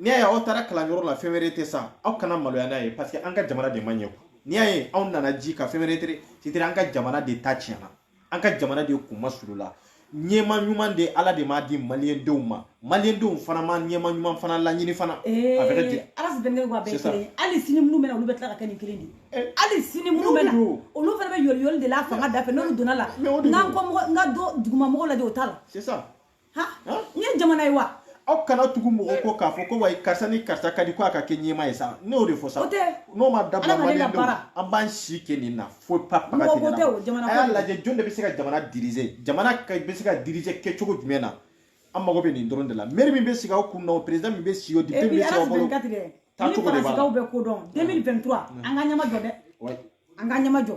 n'i y'a ye aw taara kalanyɔrɔ la fɛn wɛrɛ tɛ sa aw kana maloya n'a ye parce que an ka jamana de ma ɲɛ quoi n'i y'a ye anw nana ji kan fɛn wɛrɛ tɛ c'est-à-dire an ka jamana de ta tiɲɛna an ka jamana de kun masuulila ɲɛmaa ɲuman de ala de m'a di maliyɛndenw ma maliyɛndenw fana ma ɲɛmaa ɲuman fana laɲini fana a bɛ kɛ ten ala si dɛmɛ wa bɛɛ kelen hali sini minnu bɛna olu bɛ tila ka kɛ nin kelen de ye hali sini minnu bɛna olu fana bɛ yɔliyɔli de la fanga da fɛ n'olu donna la n'an ko mɔgɔ n ka dɔ duguma mɔgɔ lajɛ o t'a la n ye jamana ye wa aw kana tugu mɔgɔ kɔ k'a fɔ ko wa karisa ni karisa ka di ko a ka kɛ ɲɛmaa ye sa ne y'o de fɔ sa n'o ma dabila maliyɛn denw an b'an si kɛ nin na fo pa paga tɛ nin na a y'a lajɛ jɔn de bɛ se ka jamana dirize jamana bɛ se ka dirize kɛcogo jumɛn na an mago bɛ nin dɔrɔn de la mɛri min bɛ sigi aw kun na o perezidan min bɛ sigi o dipite min bɛ sigi aw bolo taacogo de b'a la ni Faransikaw bɛ ko dɔn 2023 an ka ɲɛmaa jɔ dɛ an ka ɲɛmaa jɔ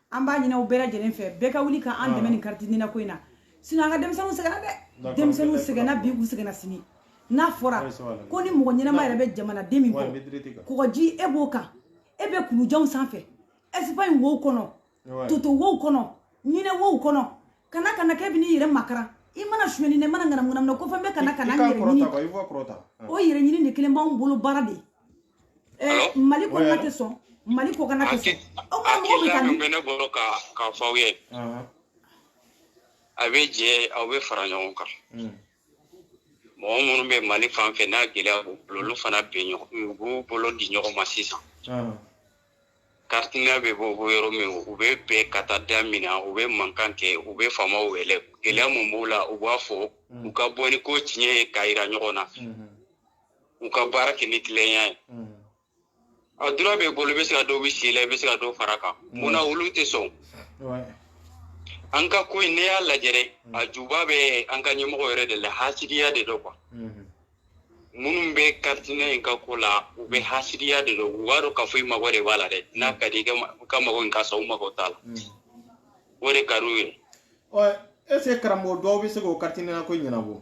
an b'a ɲini aw bɛɛ lajɛlen fɛ bɛɛ ka wuli ka an dɛmɛ nin kariti nina ko in na sinon an ka denmisɛnninw sɛgɛnna dɛ denmisɛnninw sɛgɛnna bi u sɛgɛnna sini n'a fɔra ko ni mɔgɔ ɲɛnama yɛrɛ bɛ jamanaden min kɔ kɔgɔji e b'o kan e bɛ kulujanw sanfɛ ɛsipaɲi wow kɔnɔ toto wow kɔnɔ ɲinɛ wow kɔnɔ ka na ka na k'e bɛ n'i yɛrɛ makaran i ma na suɲɛni na i ma na ŋanamuŋanamu na ko fɛn bɛ ka na ka na n yɛrɛ ɲini o yɛrɛ ɲini de kelen b'anw bolo baara de ye Eh, mali kɔnɔna tɛ sɔn mali kɔnɔna tɛ sɔn aw ka mɔgɔ bɛ ka min bɛ ne bolo k'a fɔ aw ye a bɛ jɛ aw bɛ fara ɲɔgɔn kan mɔgɔ minnu bɛ mali fan fɛ n'a gɛlɛya b'u bolo olu fana bɛ ɲɔgɔn u b'u bolo di ɲɔgɔn ma sisan kariti nina bɛ bɔ yɔrɔ min u bɛ bɛɛ ka taa da min na u bɛ mankan kɛ u bɛ faamaw wele gɛlɛya mun b'u la u b'a fɔ u ka bɔ ni ko tiɲɛ ye k'a yira ɲɔgɔn na u ka baara kɛ ni tilenya ye a droit b'i bolo i bɛ se ka dɔw bɔ si la i bɛ se ka dɔw fara kan mun na olu tɛ sɔn an ka ko in ne y'a lajɛ dɛ a juba bɛ an ka ɲɛmɔgɔ yɛrɛ de la hasidiya de don quoi minnu bɛ carte nina in ka ko la u bɛɛ hasidiya de don u b'a dɔn k'a fɔ i mago de b'a la dɛ n'a ka di i ka mago in ka sɔrɔ u mago t'a la o de ka d'u ye est-ce que karamɔgɔ dɔw bɛ se k'o carte nina ko ɲɛnabɔ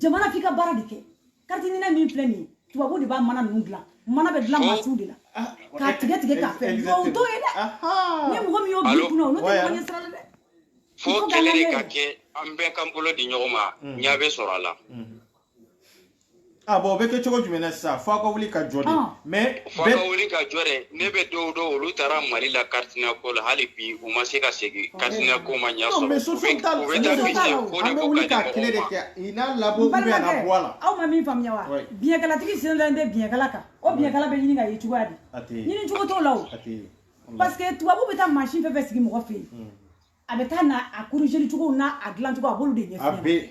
jamana f'i ka baara de kɛ carte nina min filɛ nin ye tubabu de b'a mana ninnu dilan mana bɛ dilan mansinw de la k'a tigɛ tigɛ k'a fɛ nka o t'o ye dɛ ni mɔgɔ min y'o bi kunna olu tɛ mɔgɔ ɲɛ sira la dɛ fo kɛlɛ de ka kɛ an bɛɛ k'an bolo di ɲɔgɔn ma ɲɛ bɛ sɔrɔ a la a ah, bon o bɛ kɛ cogo jumɛn na sisan fo aw ka wuli ka jɔ de ah. mais fo ka wuli ka jɔ dɛ ne bɛ dɔw dɔn olu taara mali la carte nina ko la hali bi u ma se ka segin carte nina ko ma ɲa sɔrɔ u bɛ taa fisi ko de ko ka di mɔgɔw ma aw ma min faamuya wa biɲɛkalatigi sigilen bɛ biɲɛkala kan o biɲɛkala bɛ ɲini ka ye cogoya di ɲini cogo t'o la o parce que tubabu bɛ taa mansin fɛn fɛn sigi mɔgɔ fɛ yen hmm. a bɛ taa na a korizeli cogo n'a a dilan cogo a b'olu de ɲɛfɔ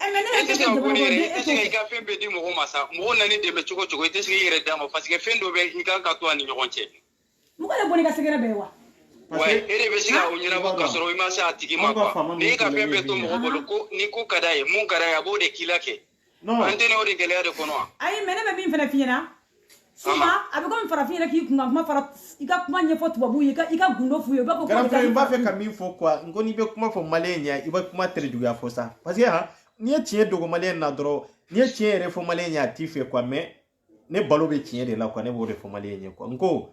Eh, mais ne e tɛ se ka bɔ ne yɛrɛ e tɛ se ka i ka fɛn bɛɛ di mɔgɔ ma sa mɔgɔ nana i dɛmɛ cogo cogo i tɛ se k'i yɛrɛ d'a ma parce que fɛn dɔ bɛ i kan ka to a ni ɲɔgɔn cɛ mɔgɔ de bɛn'i ka secret bɛɛ ye wa wa e de bɛ se ka o ɲɛnabɔ ka sɔrɔ i ma se a tigi ma quoi n'i ka fɛn bɛɛ to mɔgɔ bolo ko ni ko ka d'a ye mun ka d'a ye a b'o de k'i la kɛ an tɛ n'o de gɛlɛya de kɔnɔ wa ayi mais ne bɛ min fana f'i ɲɛna Souvent a bɛ komi farafin yɛrɛ k'i kunkan kuma fara i ka kuma ɲɛfɔ tubabuw ye i ka gundo f'u ye u b'a fɔ ko grand frère n b'a fɛ ka min fɔ quoi n ko n'i bɛ kuma fɔ maliyɛn ɲɛ i bɛ kuma terejuguya fɔ sa parce que han n'i ye tiɲɛ dogo maliyɛn na dɔrɔn n'i ye tiɲɛ yɛrɛ fɔ maliyɛn ɲɛ a t'i fɛ quoi mais ne balo bɛ tiɲɛ de la quoi ne b'o de fɔ maliyɛn ɲɛ quoi n ko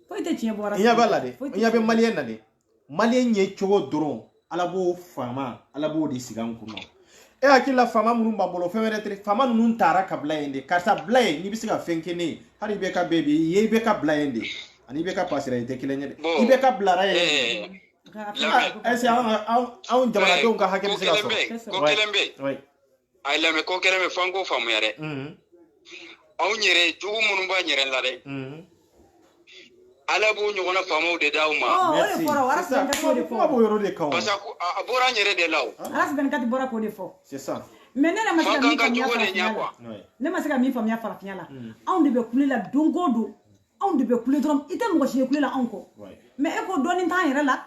foyi tɛ tiɲɛ bɔra n ɲɛ b'a la dɛ n ɲɛ bɛ maliyɛn na dɛ maliyɛn ye cogo dɔrɔn ala b'o faama ala b'o de sigi an kunna e hakili la faama minnu b'an bolo fɛn wɛrɛ tɛ faama ninnu taara ka bila yen de karisa bila yen n'i bɛ se ka fɛn kɛ ne ye hali IBK bɛ bi yen IBK bila yen de ani IBK pasera i tɛ kelen ye dɛ IBK bilara yen est-ce que anw jamanadenw ka hakɛ bɛ se ka sɔrɔ ko kelen bɛ a ye lamɛn ko kelen bɛ fo an k'o faamuya dɛ anw yɛrɛ jugu minnu b'an yɛrɛ la dɛ ala b'o ɲɔgɔnna faamaw de d'aw ma parce que a bɔra an yɛrɛ de la o bɔra k'o de fɔ mais ne ma se ka min faamuya farafinya la ne ma se ka min faamuya farafinya la anw de bɛ kule la don o don anw de bɛ kule dɔrɔn i tɛ mɔgɔ si ye kule la anw kɔ mais e ko dɔɔnin t'an yɛrɛ la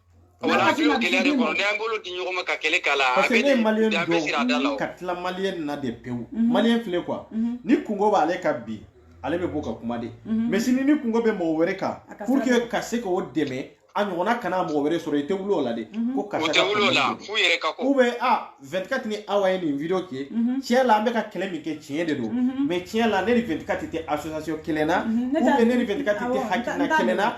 Wala kɔnɔ n'an bolo di ɲɔgɔn ma ka kɛlɛ k'a la ka tila maliyɛn na de pewu maliyɛn filɛ quoi ni kunko b'ale kan bi ale bɛ bɔ ka kuma de mais sini ni kunko bɛ mɔgɔ wɛrɛ kan pour que ka se k'o dɛmɛ a ɲɔgɔn kana mɔgɔ wɛrɛ sɔrɔ i tɛ wuli o la de ko ka 24 ni aw ye nin vidéo kɛ tiɲɛ la an bɛ ka kɛlɛ min kɛ tiɲɛ de don mais tiɲɛ la ne ni 24 tɛ association kelen na ne tɛ ha kɛlɛ na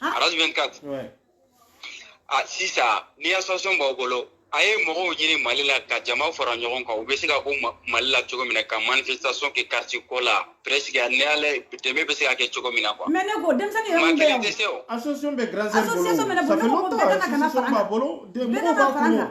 Ah. Araz 24. Ouais. Ah, sisan, ni association b'aw bolo, a ye mɔgɔw ɲini Mali la ka jama fara ɲɔgɔn kan, u bɛ se ka bɔ Mali la cogo min na ka manifestation kɛ carte ko la, presque ni ale dɛmɛ bɛ se ka kɛ cogo min na quoi. Mais ne ko denmisɛnnin yɛrɛ min bɛ yan, association bɛ grande sœur bolo, ça fait longtemps association b'a bolo, mɔgɔw b'a kɔnɔ.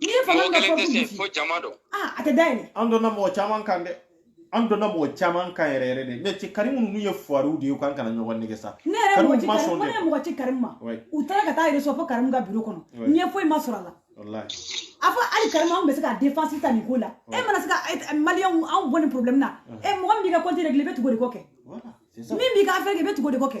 N'i ye fanga mɔgɔ kelen tɛ se fo jama don aa a tɛ da yɛlɛ an donna mɔgɔ caman kan dɛ an donna mɔgɔ caman kan yɛrɛ yɛrɛ de mais cɛ karimu ninnu ye fuwariw de ye k'an kana ɲɔgɔn nɛgɛn sa ne yɛrɛ mɔgɔ ci karimu ne mɔgɔ ci karimu ma u taara ka taa yɛrɛ fo karimu ka biro kɔnɔ ɲɛ foyi ma sɔrɔ a la a fɔ hali karimu anw bɛ se ka défense ta nin ko la e mana se ka maliyɛnw anw bɔ nin problème na e mɔgɔ min b'i ka compte régler i bɛ tugu o de kɔ kɛ min b'i ka affaire kɛ i bɛ tugu o de kɔ kɛ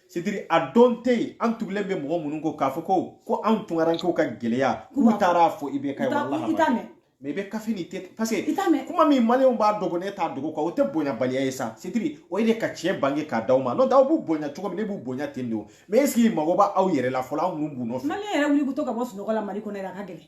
c'est-à-dire a don tɛ yen an tugulen bɛ mɔgɔ minnu kɔ k'a fɔ ko ko anw tunkarankew ka gɛlɛya k'u taara a fɔ i bɛ ka walahi mais i bɛ kafe ni tɛ parce que kuma min maliyɛnw b'a dogo ne t'a dogo kɛ o tɛ bonyabaliya ye sa c'est-à-dire o ye de ka tiɲɛ bange k'a d'aw ma n'o tɛ aw b'u bonya cogo min ne b'u bonya ten de o mais est-ce que mago b'a aw yɛrɛ la fɔlɔ aw minnu b'u nɔfɛ maliyɛn yɛrɛ wuli ko to ka bɔ sunɔgɔ la mali kɔnɔ yɛrɛ a ka gɛlɛn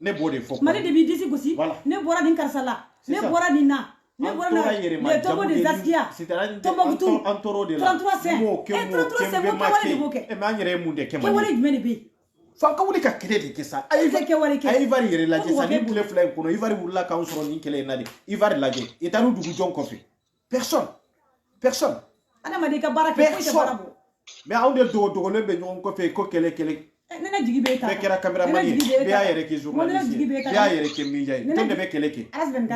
ne b'o de fɔ mali de b'i disi gosi ne bɔra nin karisa la ne bɔra nin na ne bɔra na le tombeau des Askia tɔnbɔkutu 33 saints e 33 saints ko kɛwale de b'o kɛ e mais an yɛrɛ ye mun de kɛ kɛwale jumɛn de bɛ yen f'an ka wuli ka kɛlɛ de kɛ sa a ye kɛwale kɛ a ye Ivoire yɛrɛ lajɛ sa nin tile fila in kɔnɔ Ivoire wulila k'an sɔrɔ nin kɛlɛ in na de Ivoire lajɛ i taa n'u tugu jɔn kɔfɛ personne personne adamaden ka baara kɛ foyi tɛ baara bɔ mais anw de dogo dogolen bɛ ɲɔgɔn kɔfɛ ko kɛlɛ kɛlɛ ne ka jigi bɛ ta bɛɛ kɛra cameraman ye bɛɛ y'a yɛrɛ kɛ journaliste ye bɛɛ y'a yɛrɛ kɛ media ye jɔn de bɛ kɛlɛ kɛ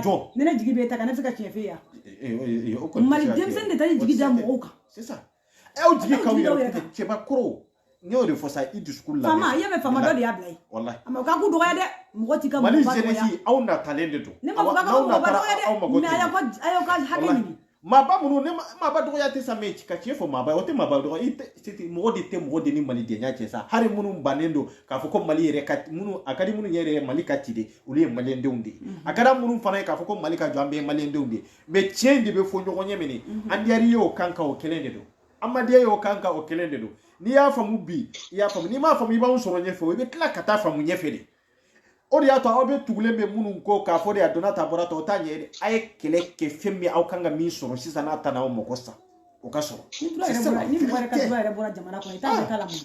jɔn ne jigi bɛ ta ka ne fɛ ka tiɲɛ f'i ye mali denmisɛnnin de taara jigi da mɔgɔw kan ɛ o jigi k'aw yɛrɛ kɛ cɛbakɔrɔ n y'o de fɔ sa i discours lamɛn faama i y'a mɛn faama dɔ de y'a bila yen walahi a ma o ka ko dɔgɔya dɛ mɔgɔ t'i ka mɔgɔ dɔgɔya mali jeunesse aw natalen de don ne ma fɔ k'a ka mɔgɔ dɔgɔya dɛ mais a y'aw ka a y'aw ka hakɛ ɲini maaba minnu ne maaba dɔgɔya tɛ sa mais ka tiɲɛ fɔ maaba o tɛ maaba dɔgɔya ye dɛ mɔgɔ de tɛ mɔgɔ de ni malidenya cɛ sa hali minnu bannen don k'a fɔ ko mali yɛrɛ ka minnu a ka di minnu yɛrɛ ye mali ka ci de olu ye maliyɛndenw de ye a ka di minnu fana ye k'a fɔ ko mali ka jɔ an bɛɛ ye maliyɛndenw de ye mais tiɲɛ de bɛ fɔ ɲɔgɔn ɲɛ mini mhm. a diyar'i ye o kan ka o kelen de don a ma diya i ye o kan ka o kelen de don n'i y'a faamu bi i y'a faamu n'i m'a faamu i b'anw sɔrɔ ɲɛfɛ o i bɛ tila ka taa faamu ɲɛfɛ de o de y'a to aw bɛ tugulen bɛ minnu kɔ k'a fɔ de a donna ta bɔra ta o t'a ɲɛ ye dɛ a ye kɛlɛ kɛ fɛn min aw kan ka min sɔrɔ sisan n'a ta n'aw mɔgɔ sa o ka sɔrɔ ni mɔgɔ yɛrɛ ka dɔ yɛrɛ bɔra jamana kɔnɔ i t'a ɲɛ k'a la mun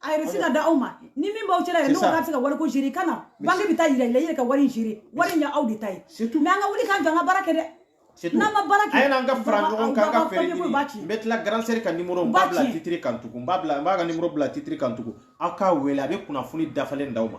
a yɛrɛ se ka da aw ma ni min b'aw cɛla yɛrɛ n'o ka se ka wariko gérer ka na banque bɛ taa yira i la i yɛrɛ ka wari in gérer wari in ye aw de ta ye mais an ka wuli k'an jɔ an ka baara kɛ dɛ n'an ma baara kɛ a ye na an ka fara ɲɔgɔn kan ka fɛɛrɛ ɲini n bɛ tila grand sœur ka numéro n b'a bila titre kan tugun n b'a bila n b'a ka numéro bila titre kan tugun aw k'a wele a bɛ kunnafoni dafalen d'aw ma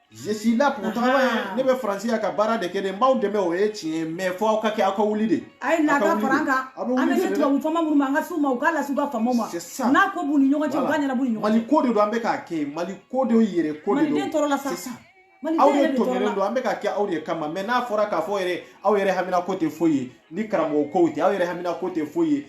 je suis là pour travailler ne bɛ faransi yan ka baara de kɛ dɛ n b'aw dɛmɛ o ye tiɲɛ ye mais fɔ aw ka kɛ aw ka wuli de a ye na ka fara an kan an bɛ se tubabu faama minnu ma an ka s'u ma u k'a lase u ka faamaw ma n'a ko b'u ni ɲɔgɔn cɛ u k'a ɲɛnab'u ni ɲɔgɔn cɛ mali ko de don an bɛ k'a kɛ mali ko de aw yɛrɛ ko de don maliden tɔɔrɔ la sa aw de tɔɲɔlen don an bɛ ka kɛ aw de kama mais n'a fɔra k'a fɔ yɛrɛ aw yɛrɛ hamina ko tɛ foyi ye ni karamɔgɔ ko tɛ aw yɛrɛ hamina ko tɛ foyi ye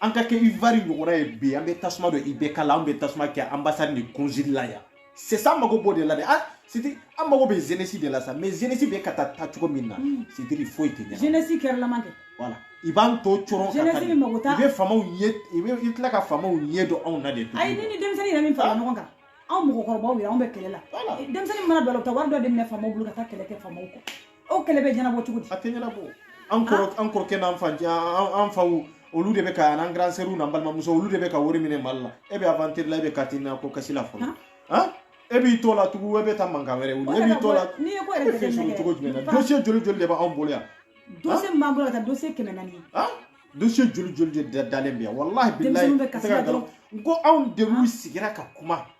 an k'a kɛ Ivoire ɲɔgɔnna ye bi an bɛ tasuma don IBK la an bɛ tasuma kɛ ambassade ni consul la yan sisan an mago b'o de la dɛ ah sidi an mago bɛ jeunesse de la sa mais jeunesse bɛ ka taa taa cogo min na hmm. c'est-à-dire foyi tɛ ɲɛ ni jeunesse kɛrɛlama tɛ voilà i b'an to coron ka taa i bɛ faamaw ye i bɛ i tila ka faamaw ɲɛ don anw na de tuguni ayi ne ni denmisɛnnin yɛrɛ min fara ɲɔgɔn kan anw mɔgɔkɔrɔbaw yɛrɛ anw bɛ kɛlɛ la denmisɛnnin mana don a la u bɛ taa wari dɔ de minɛ faamaw bolo ka taa kɛlɛ kɛ faamaw kɔ o kɛlɛ bɛ ɲɛnabɔ cogo di a tɛ ɲɛnabɔ an kɔrɔ ah. an kɔrɔkɛ n'an fa an faw olu de bɛ ka an grand sœur n'an balimamuso olu de bɛ ka wari minɛ mali la e bɛ aventure la e bɛ carte NINA ko kasi la fɔlɔ han ah. ah? e b'i t'o la tugu e bɛ taa mankan wɛrɛ wuli e b'i t'o la n'i ye ko yɛrɛ tɛ sɔrɔ cogo jumɛn na dossier joli joli de b'anw bolo yan dossier min b'an bolo ka ca dossier kɛmɛ naani ye han dossier joli joli de dalen bɛ yan walahi bilahi denmisɛnninw bɛ kasi la dɔrɔn n ko anw de n'u sigira ka kuma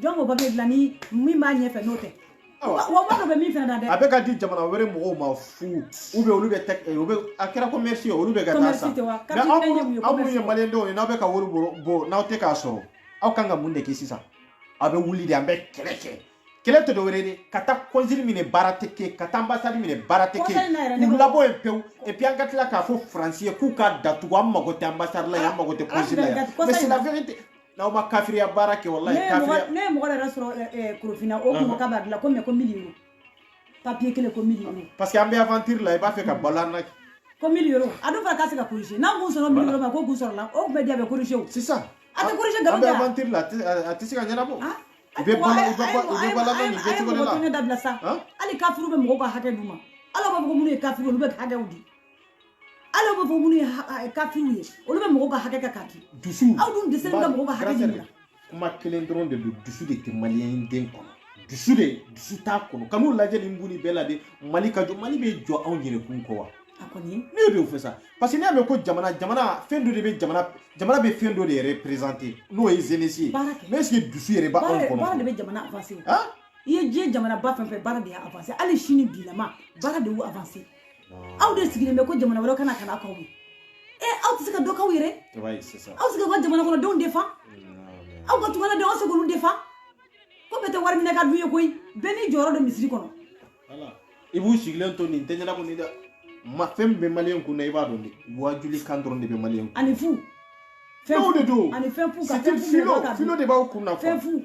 jɔn b'o papier dilan ni min b'a ɲɛfɛ n'o tɛ wa ba dɔ bɛ min fana na dɛ a bɛ ka di jamana wɛrɛ mɔgɔw ma fu ou bien olu bɛ tɛ eh, ou bien a kɛra commerce ye olu bɛ ka taa san mais aw minnu aw minnu ye maliyɛn denw ye n'aw bɛ ka wari bɔ n'aw tɛ k'a sɔrɔ aw kan ka mun de kɛ sisan aw bɛ wuli de an bɛ kɛlɛ kɛ kɛlɛ tɛ dɔwɛrɛ de ka taa consul minɛ baara tɛ kɛ ka taa ambassade minɛ baara tɛ kɛ k'u labɔ yen pewu et puis an ka tila k'a fɔ faransi ye k'u k'a datugu an mago tɛ ambassade la yan an mago tɛ consul la yan mais c'est la vérité n'aw ma kafiriya baara kɛ walahi ne ye mɔgɔ kafiriya ne ye mɔgɔ yɛrɛ sɔrɔ ɛ, ɛ, korofina o kun ko k'a b'a dilan ko mais ko mille euros papier kelen ko mille euros parce que an bɛ aventure la i b'a fɛ ka balo an na ko mille euros a dun fana k'a se ka corriger n'an kun sɔrɔ mille euros ma ko kun sɔrɔla o kun bɛ di a bɛ corriger o sisan A tɛ corriger nkalon an bɛ tɛ wa? aventure la a tɛ- a- a tɛ se ka ɲɛnabɔ Ah, i bɛ balo i bɛ balo i bɛ balo nin bɛɛ cogo de la a dabila sa Hein? hali kafiriw bɛ mɔgɔw ka hakɛ d'u ma ala b'a fɔ ko minnu ye kafiri olu bɛ hakɛw di ala b'a fɔ minnu ye kafiriw ye olu bɛ mɔgɔw ka hakɛ kɛ k'a di dusu aw dun dɛsɛlen ka mɔgɔw ka hakɛ ɲini kuma kelen dɔrɔn de don dusu de tɛ maliyɛn den kɔnɔ dusu de dusu t'a kɔnɔ ka n'u lajɛ nin buni bɛɛ la de mali ka jɔ mali bɛ jɔ anw yɛrɛ kun kɔ wa a kɔni ne bɛ o fɔ sa parce que n'i y'a mɛn ko jamana jamana fɛn dɔ de bɛ jamana jamana bɛ fɛn dɔ de représenter n'o ye jeunesse ye Baara kɛ. mais est ce que dusu yɛrɛ b'anw baara baara de kɔnɔ bɛ jamana avancer han i ye diɲɛ jamana ba fɛn fɛn baara de y'a avancer hali sini bilama baara de y'u avancer aw de sigilen bɛ ko jamana wɛrɛ ka na ka na k'aw ye e aw tɛ se ka dɔ k'aw yɛrɛ aw se ka ka jamana kɔnɔ denw défend aw ka tungala denw aw se k'olu défend ko bɛɛ tɛ wari minɛ ka dun ye koyi bɛɛ n'i jɔyɔrɔ don misiri kɔnɔ i b'u sigilen to nin tɛ ɲɛna kɔni dɛ mais fɛn min bɛ maliyɛn kun na i b'a dɔn de waajuli kan dɔrɔn de bɛ maliyɛn kun ani fu fɛnw de don ani fɛn fu ka fɛn fu filo de b'aw kun na fɛn fu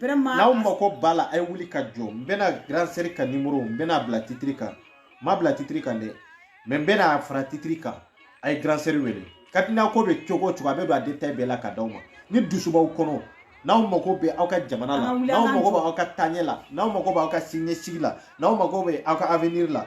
n'aw mako b'a la a ye wuli ka jɔ n bɛna grand sœur ka numéro n bɛna bila titiri kan n ma bila titiri kan dɛ mais n bɛna fara titiri kan a ye grand sœur wele katina ko bɛ cogo o cogo a bɛ don a détail bɛɛ la ka d'aw ma ni dusu b'aw kɔnɔ n'aw mago bɛ aw ka jamana la n'aw mago bɛ aw ka taaɲɛ la n'aw mago bɛ aw ka siniɲɛsigi la n'aw mago bɛ aw ka avenir la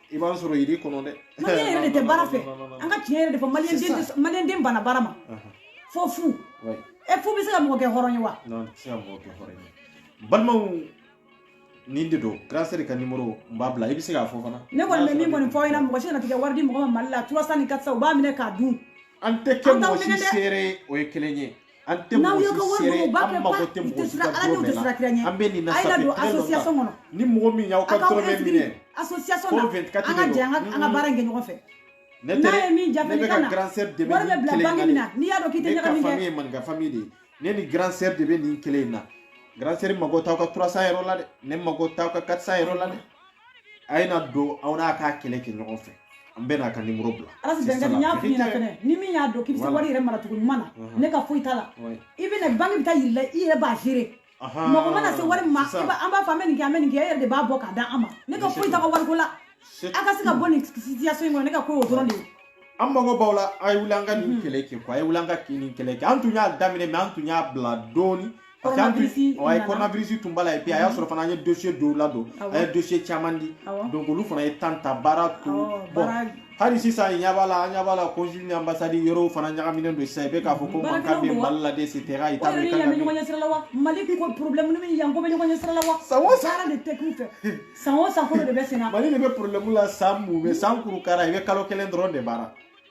i b'an sɔrɔ yiri kɔnɔ dɛ maliyɛn yɛrɛ de tɛ baara fɛ an ka tiɲɛ yɛrɛ de fɔ maliyɛn den banna baara ma fo fu e fu bɛ se ka mɔgɔ kɛ hɔrɔn ye wa tɛ se ka mɔgɔ kɛ hɔrɔn ye balimaw nin de don grand sœur ka numéro n b'a bila i bɛ se k'a fɔ fana ne kɔni bɛ min kɔni fɔ aw ɲɛna mɔgɔ si kana tigɛ wari di mɔgɔ ma mali la 300 ni 400 u b'a minɛ k'a dun an tɛ kɛ mɔgɔ si seere o ye kelen ye an tɛ n'aw ye ka wari don u b'a kɛ ba u tɛ siran ala ɲɛ u tɛ siran kira ɲɛ an bɛ nin na sa don association kɔnɔ ni mɔgɔ min y'aw ka dɔrɔmɛ minɛ association na an ka jɛ an ka baara in kɛ ɲɔgɔn fɛ n'a ye min jafe ne ka na wari bɛ bila banque min na n'i y'a dɔn k'i tɛ ɲagami kɛ ne ka famille ye maninka famille de ye ne ni grand sœur de bɛ nin kelen in na grand sœur mago t'aw ka 300 yɔrɔ la dɛ ne mago t'aw ka 400 yɔrɔ la dɛ a ye na don aw n'an k'a kɛlɛ kɛ ɲɔgɔn fɛ an bɛn'a ka numéro bila ala tɛ bɛn n y'a f'i ɲɛna fɛnɛ ni min y'a dɔn k'i bɛ se wari yɛrɛ maracogo ɲuman na ne ka foyi t'a la i bɛ na banque bɛ taa yir'i la i yɛrɛ b'a gérer mɔgɔ mana se wari ma an b'a fɔ an bɛ nin kɛ an bɛ nin kɛ e yɛrɛ de b'a bɔ k'a d'an ma ne ka foyi t'a ka wariko la a ka se ka bɔ nin situation in kɔnɔ ne ka ko y'o dɔrɔn de ye an mago b'aw la a ye wuli an ka nin kɛlɛ kɛ quoi a ye wuli an ka nin kɛlɛ kɛ an tun y'a daminɛ mais an tun y'a bila dɔɔni ye coronavirus tun b'a la et puis a y'a sɔrɔ fana an ye dossier dɔw ladon an ye dossier caman di donc olu fana ye temps ta baara to bon hali sisan ɲɛ b'a la an ɲɛ b'a la consul ni ambassade yɔrɔw fana ɲagaminen don sisan i bɛ k'a fɔ ko mankan bɛ mali la et cetera i t'a dɔn i kan ka min ɲɔgɔn ɲɛsira la wa mali ko problème ni min yan ko bɛ ɲɔgɔn ɲɛsira la wa san o san baara de tɛ k'u fɛ san o san ko de bɛ senna mali de bɛ problème la san mun mais san kuru kara i bɛ kalo kelen dɔrɔn de baara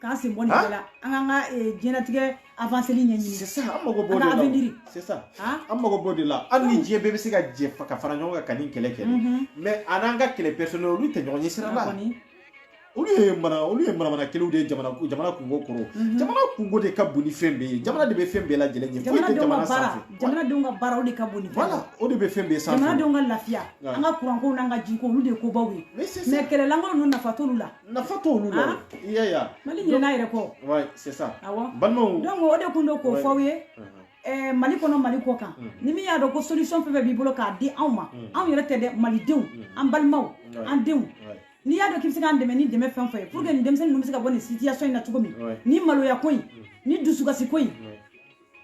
k'an sen bɔ nin bɛɛ la an k'an ka diɲɛlatigɛ avanseli ɲɛɲini sisan an mago b'o de la sisan an mago b'o de la hali ni diɲɛ bɛɛ bɛ se ka jɛ ka fara ɲɔgɔn kan ka nin kɛlɛ kɛ mais a n'an ka kɛlɛ personnel olu tɛ ɲɔgɔn ɲɛ sira la olu ye mana olu ye manamana kɛlɛw de ye jamana jamana kunko kɔrɔ jamana kunko de ka bon ni fɛn bɛɛ ye jamana de bɛ fɛn bɛɛ lajɛlen ɲɛ foyi tɛ jamana sanfɛ jamanadenw ka baara o de ka bon ni fɛn o de bɛ fɛn bɛɛ sanfɛ jamanadenw ka lafiya an ka kuranko n'an ka jiko olu de ye kobaw ye mais kɛlɛlankolon ninnu nafa t'olu la nafa t'olu la i y'a ye a mali ɲinɛna yɛrɛ kɔ ouais c'est ça awɔ balimaw donc o de kun don k'o fɔ aw ye ɛɛ mali kɔnɔ mali kɔ kan ni min y'a dɔn ko solution fɛn fɛn b'i bolo k'a di anw ma anw yɛrɛ tɛ dɛ malidenw an balimaw an denw n'i y'a dɔn k'i bɛ se k'an dɛmɛ ni dɛmɛ fɛn fɛn ye pour que nin denmisɛnnin ninnu bɛ se ka bɔ nin situation in na cogo min ni maloya ko in ni dusukasi ko in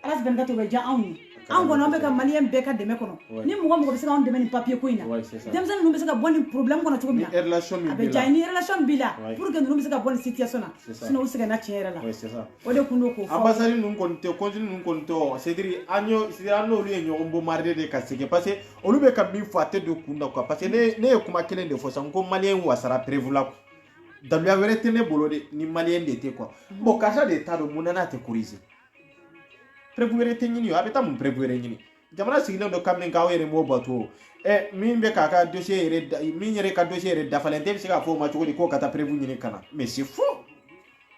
ala sɛbɛn ka to bɛ diya anw ye an kɔni an bɛ ka maliyɛn bɛɛ ka dɛmɛ kɔnɔ ni mɔgɔ mɔgɔ bɛ se ka anw dɛmɛ nin papiye ko in na denmisɛnnin ninnu bɛ se ka bɔ nin problème kɔnɔ cogo min na a bɛ diya ni relation b'i la pour que ninnu bɛ se ka bɔ nin situation na sinon u sɛgɛnna tiɲɛ yɛrɛ la o de kun don k'o fɔ ambassadeur ninnu kɔni tɛ consul ninnu kɔni tɛ c'est-à-dire an y'o an n'olu ye ɲɔgɔn bombarder de ka sɛgɛn parce que olu bɛ ka min fɔ a tɛ don kun na quoi parce que ne ne ye kuma kelen de fɔ sisan ko maliyɛn wasara preuve la daluya wɛrɛ tɛ ne bolo de ni maliyɛn de tɛ quoi bon karisa de t'a dɔn mun na n'a tɛ corriger preuve wɛrɛ tɛ ɲini a bɛ taa mun preuve wɛrɛ ɲini jamana sigilen don kabini k'aw yɛrɛ m'o bato ɛ min bɛ k'a ka dossier yɛrɛ min yɛrɛ ka dossier yɛrɛ dafalen tɛ bɛ se k'a fɔ o ma cogo di k'o ka taa preuve ɲini ka na mais c'est faux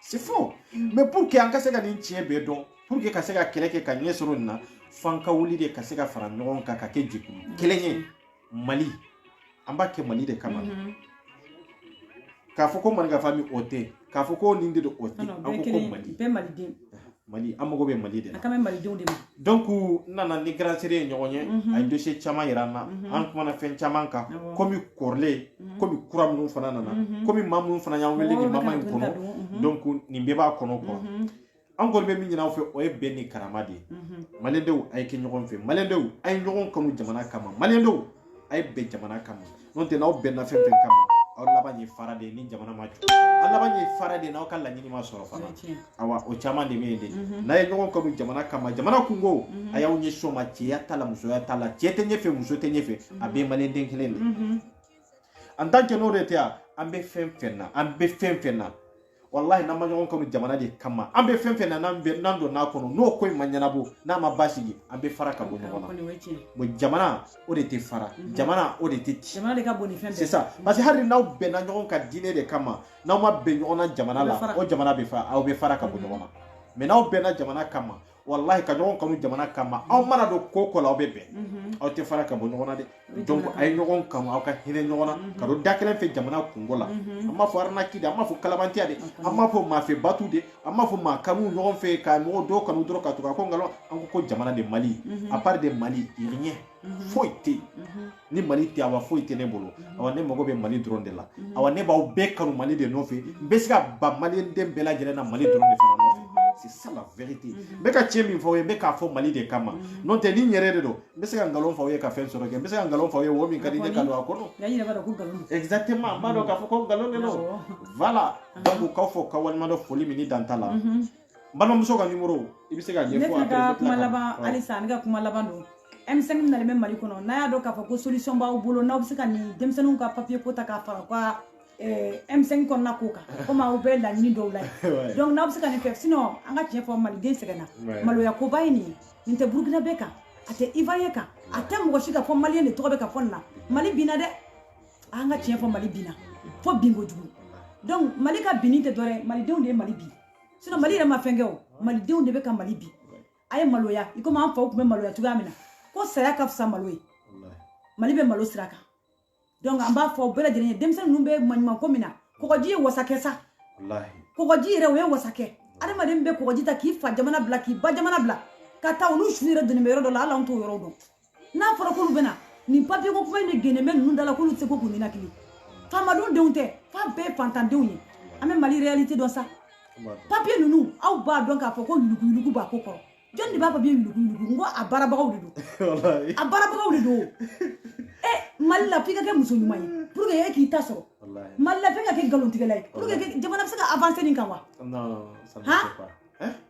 c'est faux mais pour que an ka se ka nin tiɲɛ bɛɛ dɔn pour que ka se ka kɛlɛ kɛ ka ɲɛ sɔrɔ nin na f'an ka wuli de ka se ka fara ɲɔgɔn kan ka kɛ jɛkulu kelen ye mali an b'a kɛ mali de kama mm-hmm. k'a fɔ ko manikafa min o tɛ k'a fɔ ko nin de don o tɛ an ko ko mali bɛɛ maliden mali an mago bɛ mali de la an kan bɛ malidenw de ma donc n nana ni grande sœur ye ɲɔgɔn ye a ye dossier caman yira an na an kumana fɛn caman kan komi kɔrɔlen komi kura minnu fana nana komi maa minnu fana y'an wele nin moment in kɔnɔ donc nin bɛɛ b'a kɔnɔ quoi an kɔni bɛ min ɲini aw fɛ o ye bɛn ni karama de ye malidenw a ye kɛ ɲɔgɔn fɛ malidenw a ye ɲɔgɔn kanu jamana kama malidenw a ye bɛn jamana kama n'o tɛ n'aw bɛnna fɛn fɛn kama aw laban ye fara de ye ni jamana ma jɔ aw laban ye fara de ye n'aw ka laɲini ma sɔrɔ fana awa o caman de bɛ yen de n'a ye ɲɔgɔn kanu jamana kama jamana kunko a y'aw ɲɛsin o ma cɛya t'a la musoya t'a la cɛ tɛ ɲɛfɛ muso tɛ ɲɛfɛ a bɛɛ ye maliden kelen de en tant que n'o de tɛ yan an bɛ fɛn fɛn na an bɛ fɛn fɛn na wallahi n'an ma ɲɔgɔn kanu jamana de kama an bɛ fɛn fɛn na n'an bɛ n'an donn'a kɔnɔ n'o ko in ma ɲɛnabɔ n'a ma basigi an bɛ fara ka bɔ ɲɔgɔn na bon jamana o de tɛ fara mhm. jamana o de tɛ ci jamana de ka bon ni fɛn bɛɛ c'est ça parce que hali n'aw bɛnna ɲɔgɔn ka diinɛ de kama n'aw ma bɛn ɲɔgɔn na jamana la o jamana bɛ fara aw bɛ fara ka bɔ mhm. ɲɔgɔn na mais n'aw bɛnna jamana kama walahi ka ɲɔgɔn kanu jamana kama aw mana don ko ko la aw bɛ bɛn mhm. aw tɛ fara ka bɔ ɲɔgɔn na dɛ donc a ye ɲɔgɔn kanu aw ka hinɛ ɲɔgɔn na mhm. ka don da kelen fɛ jamana kunko la mhm. an m'a fɔ arnaque de an m'a fɔ kalabantiya de an m'a fɔ maafɛ batu de an m'a fɔ maa kanu ɲɔgɔn fɛ ka mɔgɔ dɔw kanu dɔrɔn ka tugu a kɔ nkalon an ko ko jamana de mali à part de mali rien foyi tɛ yen ni mali tɛ awa foyi tɛ ne bolo awa ne mago bɛ mali dɔrɔn de la awa ne b'aw bɛɛ kanu mali de nɔfɛ n bɛ se ka ban maliden bɛɛ lajɛlen na mali dɔrɔn de fana nɔfɛ c'est ça la vérité n bɛ ka tiɲɛ min fɔ aw ye n bɛ k'a fɔ mali de kama n'o tɛ ni n yɛrɛ de don n bɛ se ka nkalon fɔ aw ye ka fɛn sɔrɔ kɛ n bɛ se ka nkalon fɔ aw ye wo min ka di n ye ka don a kɔnɔ exactement n b'a dɔn k'a fɔ ko nkalon de don voilà donc k'aw fo k'aw waleɲuman dɔn foli min ni dan t'a la balimamuso ka nimoro i bɛ se k'a ɲɛfɔ ne fana ka kuma laban halisa ne ka kuma laban don m5 min nalen bɛ mali kɔnɔ n'aw y'a dɔn k'a fɔ ko solution b'aw bolo n'aw bɛ se ka nin denmisɛnninw ka papiye ko ta k'a fara u ka m5 eh, kɔnɔna ko kan komi aw bɛɛ laɲini dɔw la ye donc n'aw bɛ se ka nin kɛ sinon an ka tiɲɛ fɔ maliden sɛgɛnna maloya koba ye nin ye nin tɛ burukinabɛ kan a tɛ ivoirien kan a tɛ mɔgɔ si kan fo maliyɛn de tɔgɔ bɛ ka fɔ nin na mali binna dɛ an ka tiɲɛ fɔ mali binna fo bin kojugu donc mali ka binni tɛ dɔwɛrɛ malidenw de ye mali bin sinon mali yɛrɛ ma fɛn kɛ o malidenw de bɛ ka mali bin a ye maloya i komi an faw tun bɛ maloya cogoya min na ko saya ka fisa malo ye mali bɛ malo sira kan donc an b'a fɔ aw bɛɛ lajɛlen ye denmisɛn ninnu bɛ maɲuman ko min na kɔgɔji y'u wasa kɛ sa kɔgɔji yɛrɛ o y'u wasa kɛ adamaden bɛ kɔgɔji ta k'i fa jamana bila k'i ba jamana bila ka taa olu su yɛrɛ donnen bɛ yɔrɔ dɔ la hali an t'o yɔrɔ dɔn n'a fɔra k'olu bɛna nin papiye ko kuma in de genen bɛ ninnu da la k'olu tɛ se ko k'u ninakili faamadenw denw tɛ f'a bɛɛ ye fantandenw ye an bɛ mali réalité dɔn sa papiye ninnu aw b'a dɔn k'a fɔ ko yuluguyulugu b'a ko kɔrɔ jɔnni de b'a papiye yuluguyulugu n ko a baarabagaw de don a baarabagaw de don e mali la f'i ka kɛ muso ɲuman ye pour que e k'i ta sɔrɔ mali la f'i ka kɛ nkalontigɛla ye pour que jamana bɛ se ka avancer nin kan wa han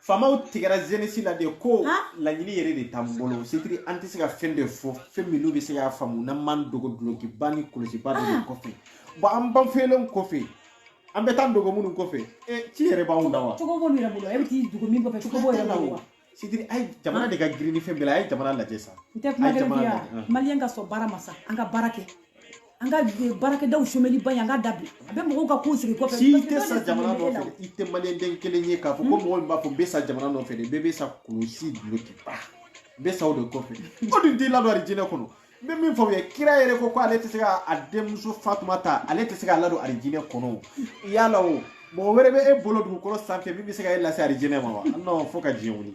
faamaw tigɛra jeunesse la de ko laɲini yɛrɛ de t'an bolo c'est-à-dire an tɛ se ka fɛn de fɔ fɛn min n'u bɛ se k'a faamu n'an m'an dogo dulokiba ni kɔlɔsiba dɔ de kɔfɛ bon an banfeelenw kɔfɛ an bɛ taa dogo minnu kɔfɛ ci yɛrɛ b'anw da wa cogo b'olu yɛrɛ bolo e bɛ t'i dogo min kɔfɛ cogo b'o yɛrɛ la wa c'est-à-dire a ye jamana de ka girin ni fɛn bɛɛ la a ye jamana lajɛ sa n tɛ kuma gɛlɛn f'i ye maliyɛn ka sɔn baara ma sa an ka baara kɛ an ka baarakɛdaw somɛli ba ye an k'a dabila a bɛ mɔgɔw ka ko sigi kɔfɛ si tɛ sa jamana nɔfɛ i tɛ maliyɛnden kelen ye k'a fɔ ko mɔgɔ min b'a fɔ n bɛ sa jamana nɔfɛ de bɛɛ bɛ sa kulusi dulokiba n bɛ sa o de kɔfɛ o dun t'i ladon arijinɛ kɔnɔ n bɛ min fɔ u ye kira yɛrɛ ko ko ale tɛ se ka a denmuso fatumata ale tɛ se k'a ladon arijinɛ kɔnɔ o yala o mɔgɔ wɛrɛ bɛ e bolo dugukolo sanfɛ min bɛ se ka e lase arijinɛ ma wa non fo ka diɲɛ wuli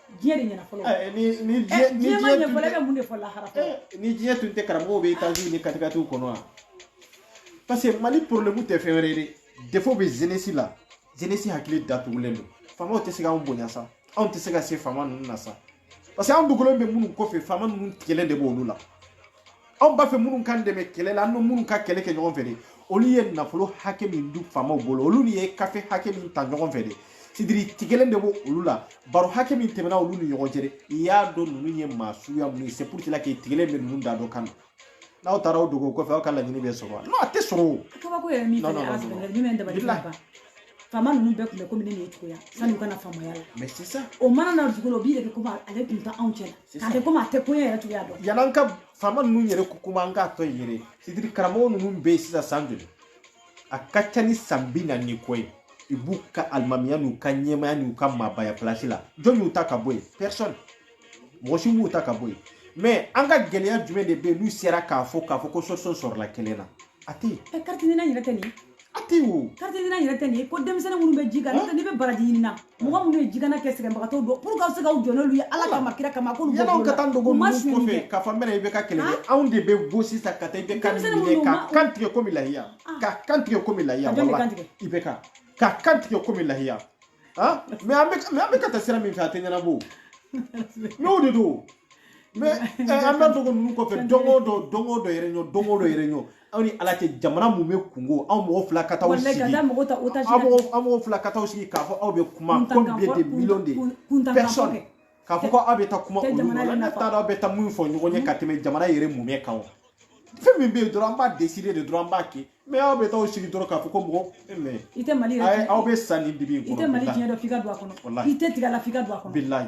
diɲɛ de ɲɛna fɔlɔ eh, ni ni eh, diɲɛ ni diɲɛ tun tɛ mun de fɔ lahara eh, ni diɲɛ tun tɛ karamɔgɔw bɛ etaziw ni katikatiw kɔnɔ wa parce que mali problème tɛ fɛn wɛrɛ ye dɛ défaut bɛ jeunesse la jeunesse hakili datugulen don faamaw tɛ se k'anw bonya sa anw tɛ se ka se faama ninnu na sa parce que anw dogolen bɛ minnu kɔfɛ faama ninnu tigɛlen de b'olu la anw b'a fɛ minnu k'an dɛmɛ kɛlɛ la an bɛ minnu ka kɛlɛ kɛ ɲɔgɔn fɛ de olu ye nafolo hakɛ min dun faamaw bolo olu ni ye kafe hakɛ min ta ɲɔgɔn fɛ de sidiri tigɛlen de b'o olu la baro hakɛ min tɛmɛna olu ni ɲɔgɔn cɛ de i y'a dɔn ninnu ye maa suguya minnu ye c'est pour cela que tigɛlen bɛ ninnu da dɔ kan na n'aw taara o dogo o kɔfɛ aw ka laɲini bɛ sɔrɔ wa non a tɛ sɔrɔ o kabako yɛrɛ min fana y'a sɔrɔ yɛrɛ jumɛn dabali tɛ ban faama ninnu bɛɛ tun bɛ komi ne ni e cogoya sanni u ka na faamaya la mais c'est ça o mana na dugu la o b'i yɛrɛ kɛ komi ale tun tɛ anw cɛ la a kɛ komi a tɛ koɲɛ yɛrɛ cogoya dɔn yan'an ka faama ninnu yɛrɛ ko kuma an k'a to yen yɛrɛ sidiri karamɔgɔ ninnu bɛ yen sisan san joli a ka ca ni san bi naani ni kɔ ye i b'u ka alimamiya n'u ka ɲɛmaaya n'u ka maabaya place la jɔn y'u ta ka bɔ yen personne mɔgɔ si m'u ta ka bɔ yen mais an ka gɛlɛya jumɛn de bɛ yen n'u sera k'a fɔ k'a fɔ ko solution sɔrɔla kelen na a tɛ yen. ɛ carte NINA yɛrɛ tɛ nin a tɛ wo carte NINA yɛrɛ tɛ nin ye ko denmisɛnnin minnu bɛ ji kan n'o tɛ n'i bɛ baraji ɲini na mɔgɔ minnu ye ji kan na kɛ sɛgɛnbagatɔw dɔn pour que aw se k'aw jɔ n'olu ye ala kama kira kama k'olu bɔ yalaw ka taa dogo ninnu kɔfɛ k'a fɔ n bɛna i bɛ ka kɛlɛ kɛ anw de bɛ bɔ sisan ka taa i bɛ ka minɛ ka kan tigɛ komi lahiya ka kan tigɛ komi lahiya wala i bɛ ka ka kan tigɛ komi lahiya mais an bɛ mais an bɛ ka taa sira min fɛ a tɛ ɲɛnabɔ mais o de don mais an bɛ dogo ninnu kɔfɛ don o don don o don yɛrɛ ɲɔ don o don yɛrɛ ɲɔ aw ni ala cɛ jamana mumɛ kunko aw mɔgɔ fila ka taa aw sigi aw mɔgɔ fila ka taa sigi k'a fɔ aw bɛ kuma combien de millions de personnes k'a fɔ ko aw bɛ taa kuma olu ma ne t'a dɔn aw bɛ taa mun fɔ ɲɔgɔn ye ka tɛmɛ jamana yɛrɛ mumɛ kan wa fɛn min bɛ yen dɔrɔn an b'a décider de dɔrɔn an b'a kɛ mais aw bɛ taa aw sigi dɔrɔn k'a fɔ ko mɔgɔ mais i tɛ mali yɛrɛ aw bɛ sa nin dibi kɔnɔ i tɛ mali diɲɛ dɔn f'i ka don a kɔnɔ i tɛ tigɛ la f'i ka don a kɔnɔ bilayi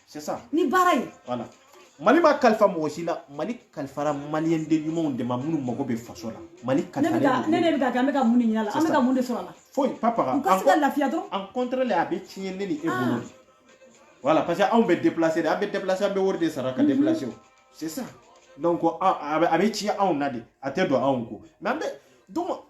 c'est ça ni baara ye voilà mali ma kalifa mɔgɔ si la mali kalifara maliyɛn den ɲumanw de ma minnu mago bɛ faso la mali kalifalen ne ne bɛ ka kɛ an bɛ ka mun de ɲini a la an bɛ ka mun de sɔrɔ a la foyi papa ka u ka se ka lafiya dɔrɔn en contraire a bɛ tiɲɛ ne ni e bolo de voilà parce que anw bɛ déplacer de an bɛ déplacer an bɛ wari de sara ka déplacer o c'est ça donc a bɛ tiɲɛ anw na de a tɛ don anw kun mais an bɛ donc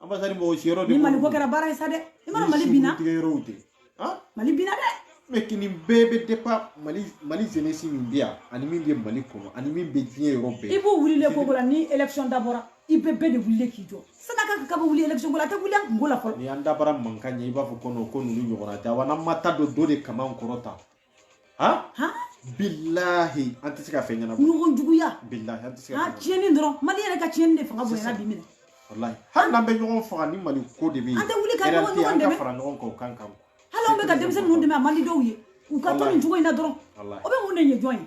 Ambassadeur mɔgɔ si yɔrɔ de. Ni Mali ko kɛra baara ye sa dɛ. I ma Mali binna. Tigɛ yɔrɔw tɛ. Han? Mali binna dɛ. Mais ko nin bɛɛ bɛ dépend Mali Mali jeunesse min bɛ yan ani min bɛ Mali kɔnɔ ani min bɛ diɲɛ yɔrɔ bɛɛ. I b'u wulilen ko ko la ni élection dabɔra i bɛɛ bɛɛ de wulilen k'i jɔ. Sani a ka ka bɛ wuli élection ko la a tɛ wuli a kunko la fɔlɔ. Ni an dabara mankan ɲɛ i b'a fɔ ko non ko ninnu ɲɔgɔnna tɛ wa n'an ma taa don dɔ de kaman kɔrɔ tan. han han bilahi an tɛ se ka fɛn ɲɛnabɔ ɲɔgɔn juguya bilahi an tɛ se ka fɛn ɲɛnabɔ tiɲɛni dɔrɔn mali yɛrɛ ka tiɲɛni de fanga bonyana bi minɛ walahi hali n'an bɛ ɲɔgɔn faga ni mali ko de bɛ yen an tɛ wuli ka ɲɔgɔn ɲɔgɔn dɛmɛ an ka fara ɲɔgɔn kan o kan kan hali an bɛ ka denmisɛnnin ninnu dɛmɛ a man di dɔw ye u ka to nin cogo in na dɔrɔn o bɛ mun de ɲɛ jɔn ye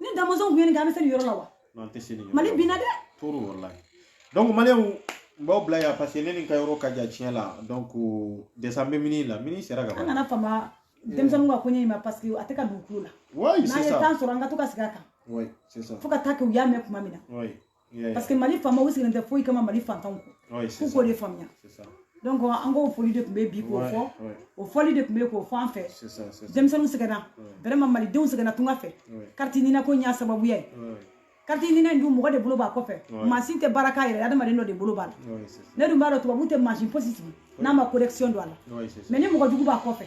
ni Damɔnzɔn tun ye nin kɛ an bɛ se nin yɔrɔ la wa non tɛ se nin yɔrɔ mali binna dɛ trop walayi donc maliyɛnw n b'aw bila yan parce que ne ni ka yɔrɔ ka jan tiɲɛ la donc déjà n bɛ minuit la minuit sera ka ban an kana fama denmisɛnninw ka koɲɛ in ma parce que a tɛ ka don u tulo la oui c'est ça n'an ye temps sɔrɔ an ka to ka sigi a kan oui c'est ça fo ka taa kɛ u y'a mɛn tuma min na oui parce que mali faamaw u sigilen tɛ foyi kama mali fantanw kɔ k'u k'o de faamuya donc an k'o fɔli de tun bɛ bi k'o fɔ o fɔli de tun bɛ k'o fɔ an fɛ denmisɛnninw sɛgɛnna vraiment malidenw sɛgɛnna tunga fɛ carte nina ko y'a sababuya ye carte nina in dun mɔgɔ de bolo b'a kɔfɛ mansin tɛ baara k'a yɛrɛ adamaden dɔ de bolo b'a la ne dun b'a dɔn tubabu tɛ mansin fosi sigi n'a ma correction don a la mais ni mɔgɔ jugu b'a kɔfɛ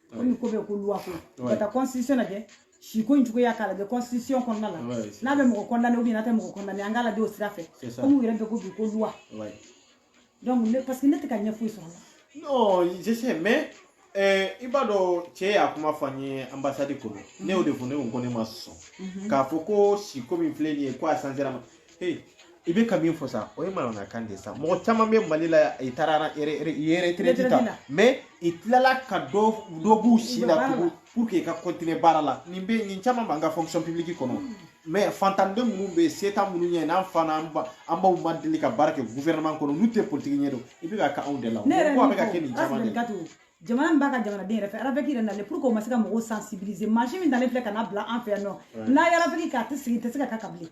komi ko bɛ ko loi ko ka taa constitution lajɛ siko in cogoya k'a lajɛ constitution kɔnɔna la n'a bɛ mɔgɔ condamner ou bien n'a tɛ mɔgɔ condamner an k'a lajɛ o sira fɛ komi u yɛrɛ bɛ ko bi ko loi donc ne parce que ne tɛ ka ɲɛ foyi sɔrɔ a la non je sais mais eh, i b'a dɔn cɛ y'a kuma fɔ an ye ambassade kɔnɔ ne y'o de fɔ ne ko ko ne ma sɔn k'a fɔ ko siko min filɛ nin ye ko a changera ma i bɛ ka min fɔ sa o ye manamanakan de ye sa mɔgɔ caman bɛ mali la i taara retraite ta mais i tilala ka dɔ dɔ b'u si la tugun pour que i ka continuer baara la nin bɛ nin caman b'an ka fonction publique kɔnɔ hmm. mais fantanden minnu bɛ yen se t'an minnu ye n'an fa n'an ba an baw ma deli ka baara kɛ gouvernement kɔnɔ n'u tɛ politiki ɲɛ dɔn i bɛ k'a kɛ anw de la o ko a bɛ ka kɛ nin caman de la jamana min b'a ka jamanaden yɛrɛ fɛ ravec yɛrɛ nalen pour que o ma se ka mɔgɔw sensibiliser mansin min dalen filɛ ka n'a bila an fɛ yan nɔ n'a ye ravec kɛ a tɛ sigi tɛ se ka kɛ ka bilen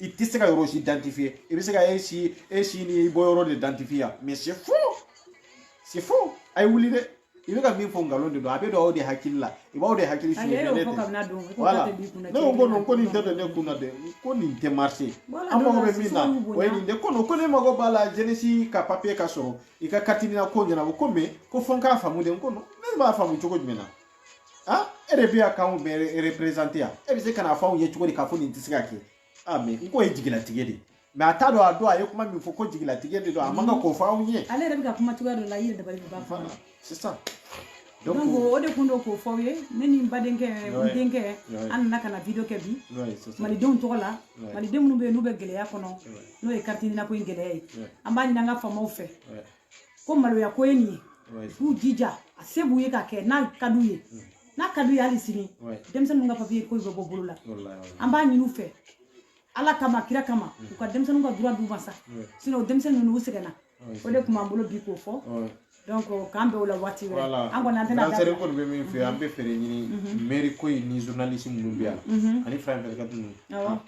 i tɛ se ka yɔrɔ si identifier i bɛ se ka e si e si n'i bɔyɔrɔ de identifier mais c'est faux c'est faux a ye wuli dɛ i bɛ ka min fɔ nkalon de don a bɛ don aw de hakili la i b'aw de hakili suɲɛ ne tɛ voilà ne ko ko non ko nin tɛ don ne kun na dɛ ko nin tɛ marché an mago bɛ min na o ye nin de ko non ko ne mago b'a la jeunesse ka papier ka sɔrɔ i ka carte nina ko ɲɛnabɔ ko mais ko fɔ n k'a faamu de n ko non ne b'a faamu cogo jumɛn na ah e de bɛ yan k'anw bɛɛ représenter yan e bɛ se ka n'a fɔ anw ye cogo di k'a fɔ nin tɛ se ka kɛ ah mais n ko ye jigilatigɛ de ye mais a t'a dɔn a don a ye kuma min fɔ ko jigilatigɛ de don a man kan k'o fɔ anw ye ale yɛrɛ bɛ ka kuma cogoya dɔ la i yɛrɛ dabali bɛ ban fana sisan donc o de kun don k'o fɔ aw ye ne ni n badenkɛ n denkɛ an nana ka na video kɛ bi malidenw tɔgɔ la maliden minnu bɛ yen n'u bɛ gɛlɛya kɔnɔ n'o ye carte nina ko in gɛlɛya ye an b'a ɲini an ka faamaw fɛ ko maloya ko ye nin ye k'u jija a se b'u ye k'a kɛ n'a ka d'u ye mm. n'a ka d'u ye hali sini denmisɛnninw ka papier ko bɛ bɔ bolo la an b'a ɲini u fɛ ala kama kira kama mm. u ka denmisɛnninw ka droit d'u ma sa sinon denmisɛnnin ninnu u sɛgɛnna o de tun b'an bolo bi k'o fɔ donc k'an bɛ o la waati wɛrɛ an kɔni an tɛna da sɛri kɔni bɛ min fɛ an bɛ fɛɛrɛ ɲini mairie ko in ni journaliste minnu bɛ yan ani fɛn fɛn ka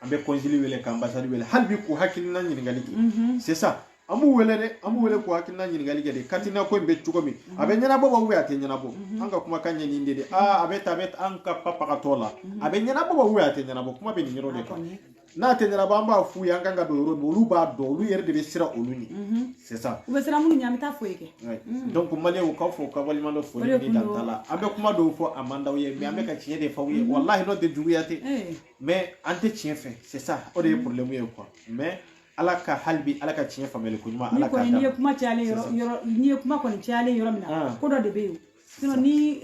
an bɛ consul wele ka ambassade wele hali bi k'u hakilina ɲininkali kɛ mhm. c'est ça an b'u wele dɛ an b'u wele k'u hakilina ɲininkali kɛ de carte nina ko in bɛ cogo min a bɛ ɲɛnabɔ wa ou bien a tɛ ɲɛnabɔ mhm. an ka kumakan ye nin de de aa a bɛ ta a bɛ an ka pancarte la mhm. a bɛ ɲɛnabɔ wa ou bien a tɛ ɲɛnabɔ kuma bɛ nin yɔrɔ de kan n'a tɛ ɲɛnabɔ an b'a f'u ye an ka kan ka don yɔrɔ min olu b'a dɔn olu yɛrɛ de bɛ siran olu ɲɛ c'est ça u bɛ siran minnu ɲɛ an bɛ taa fo yen kɛ donc maliyɛnw k'aw fo k'aw waleɲumandɔn foli ni dantala an bɛ kuma dɔw fɔ a man d'aw ye mais an bɛ ka tiɲɛ de fɔ aw ye walahi n'o tɛ juguya tɛ mais an tɛ tiɲɛ fɛ c'est ça o de ye problème ye quoi mais ala ka hali bi ala ka tiɲɛ faamuyali ko ɲuman ala k'a d'an ma. n'i ye kuma cayalen yɔrɔ yɔrɔ n'i ye kuma kɔni cayalen yɔrɔ min na ah. ko dɔ de bɛ yen sinon ni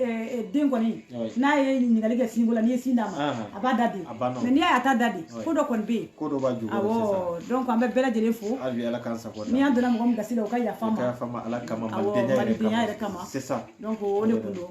den kɔni n'a ye ɲininkali kɛ sinko la n'i ye sin d'a ma a b'a da di mais n'i y'a ye a t'a da di ko dɔ kɔni bɛ yen ko dɔ b'a jukɔrɔ awɔ donc an bɛ bɛɛ lajɛlen fo hali ala k'an sago ni an donna mɔgɔ min gasi la o ka yafa an ma ka yafa an ma ala kama malidenya yɛrɛ kama c'est ça donc o de kun don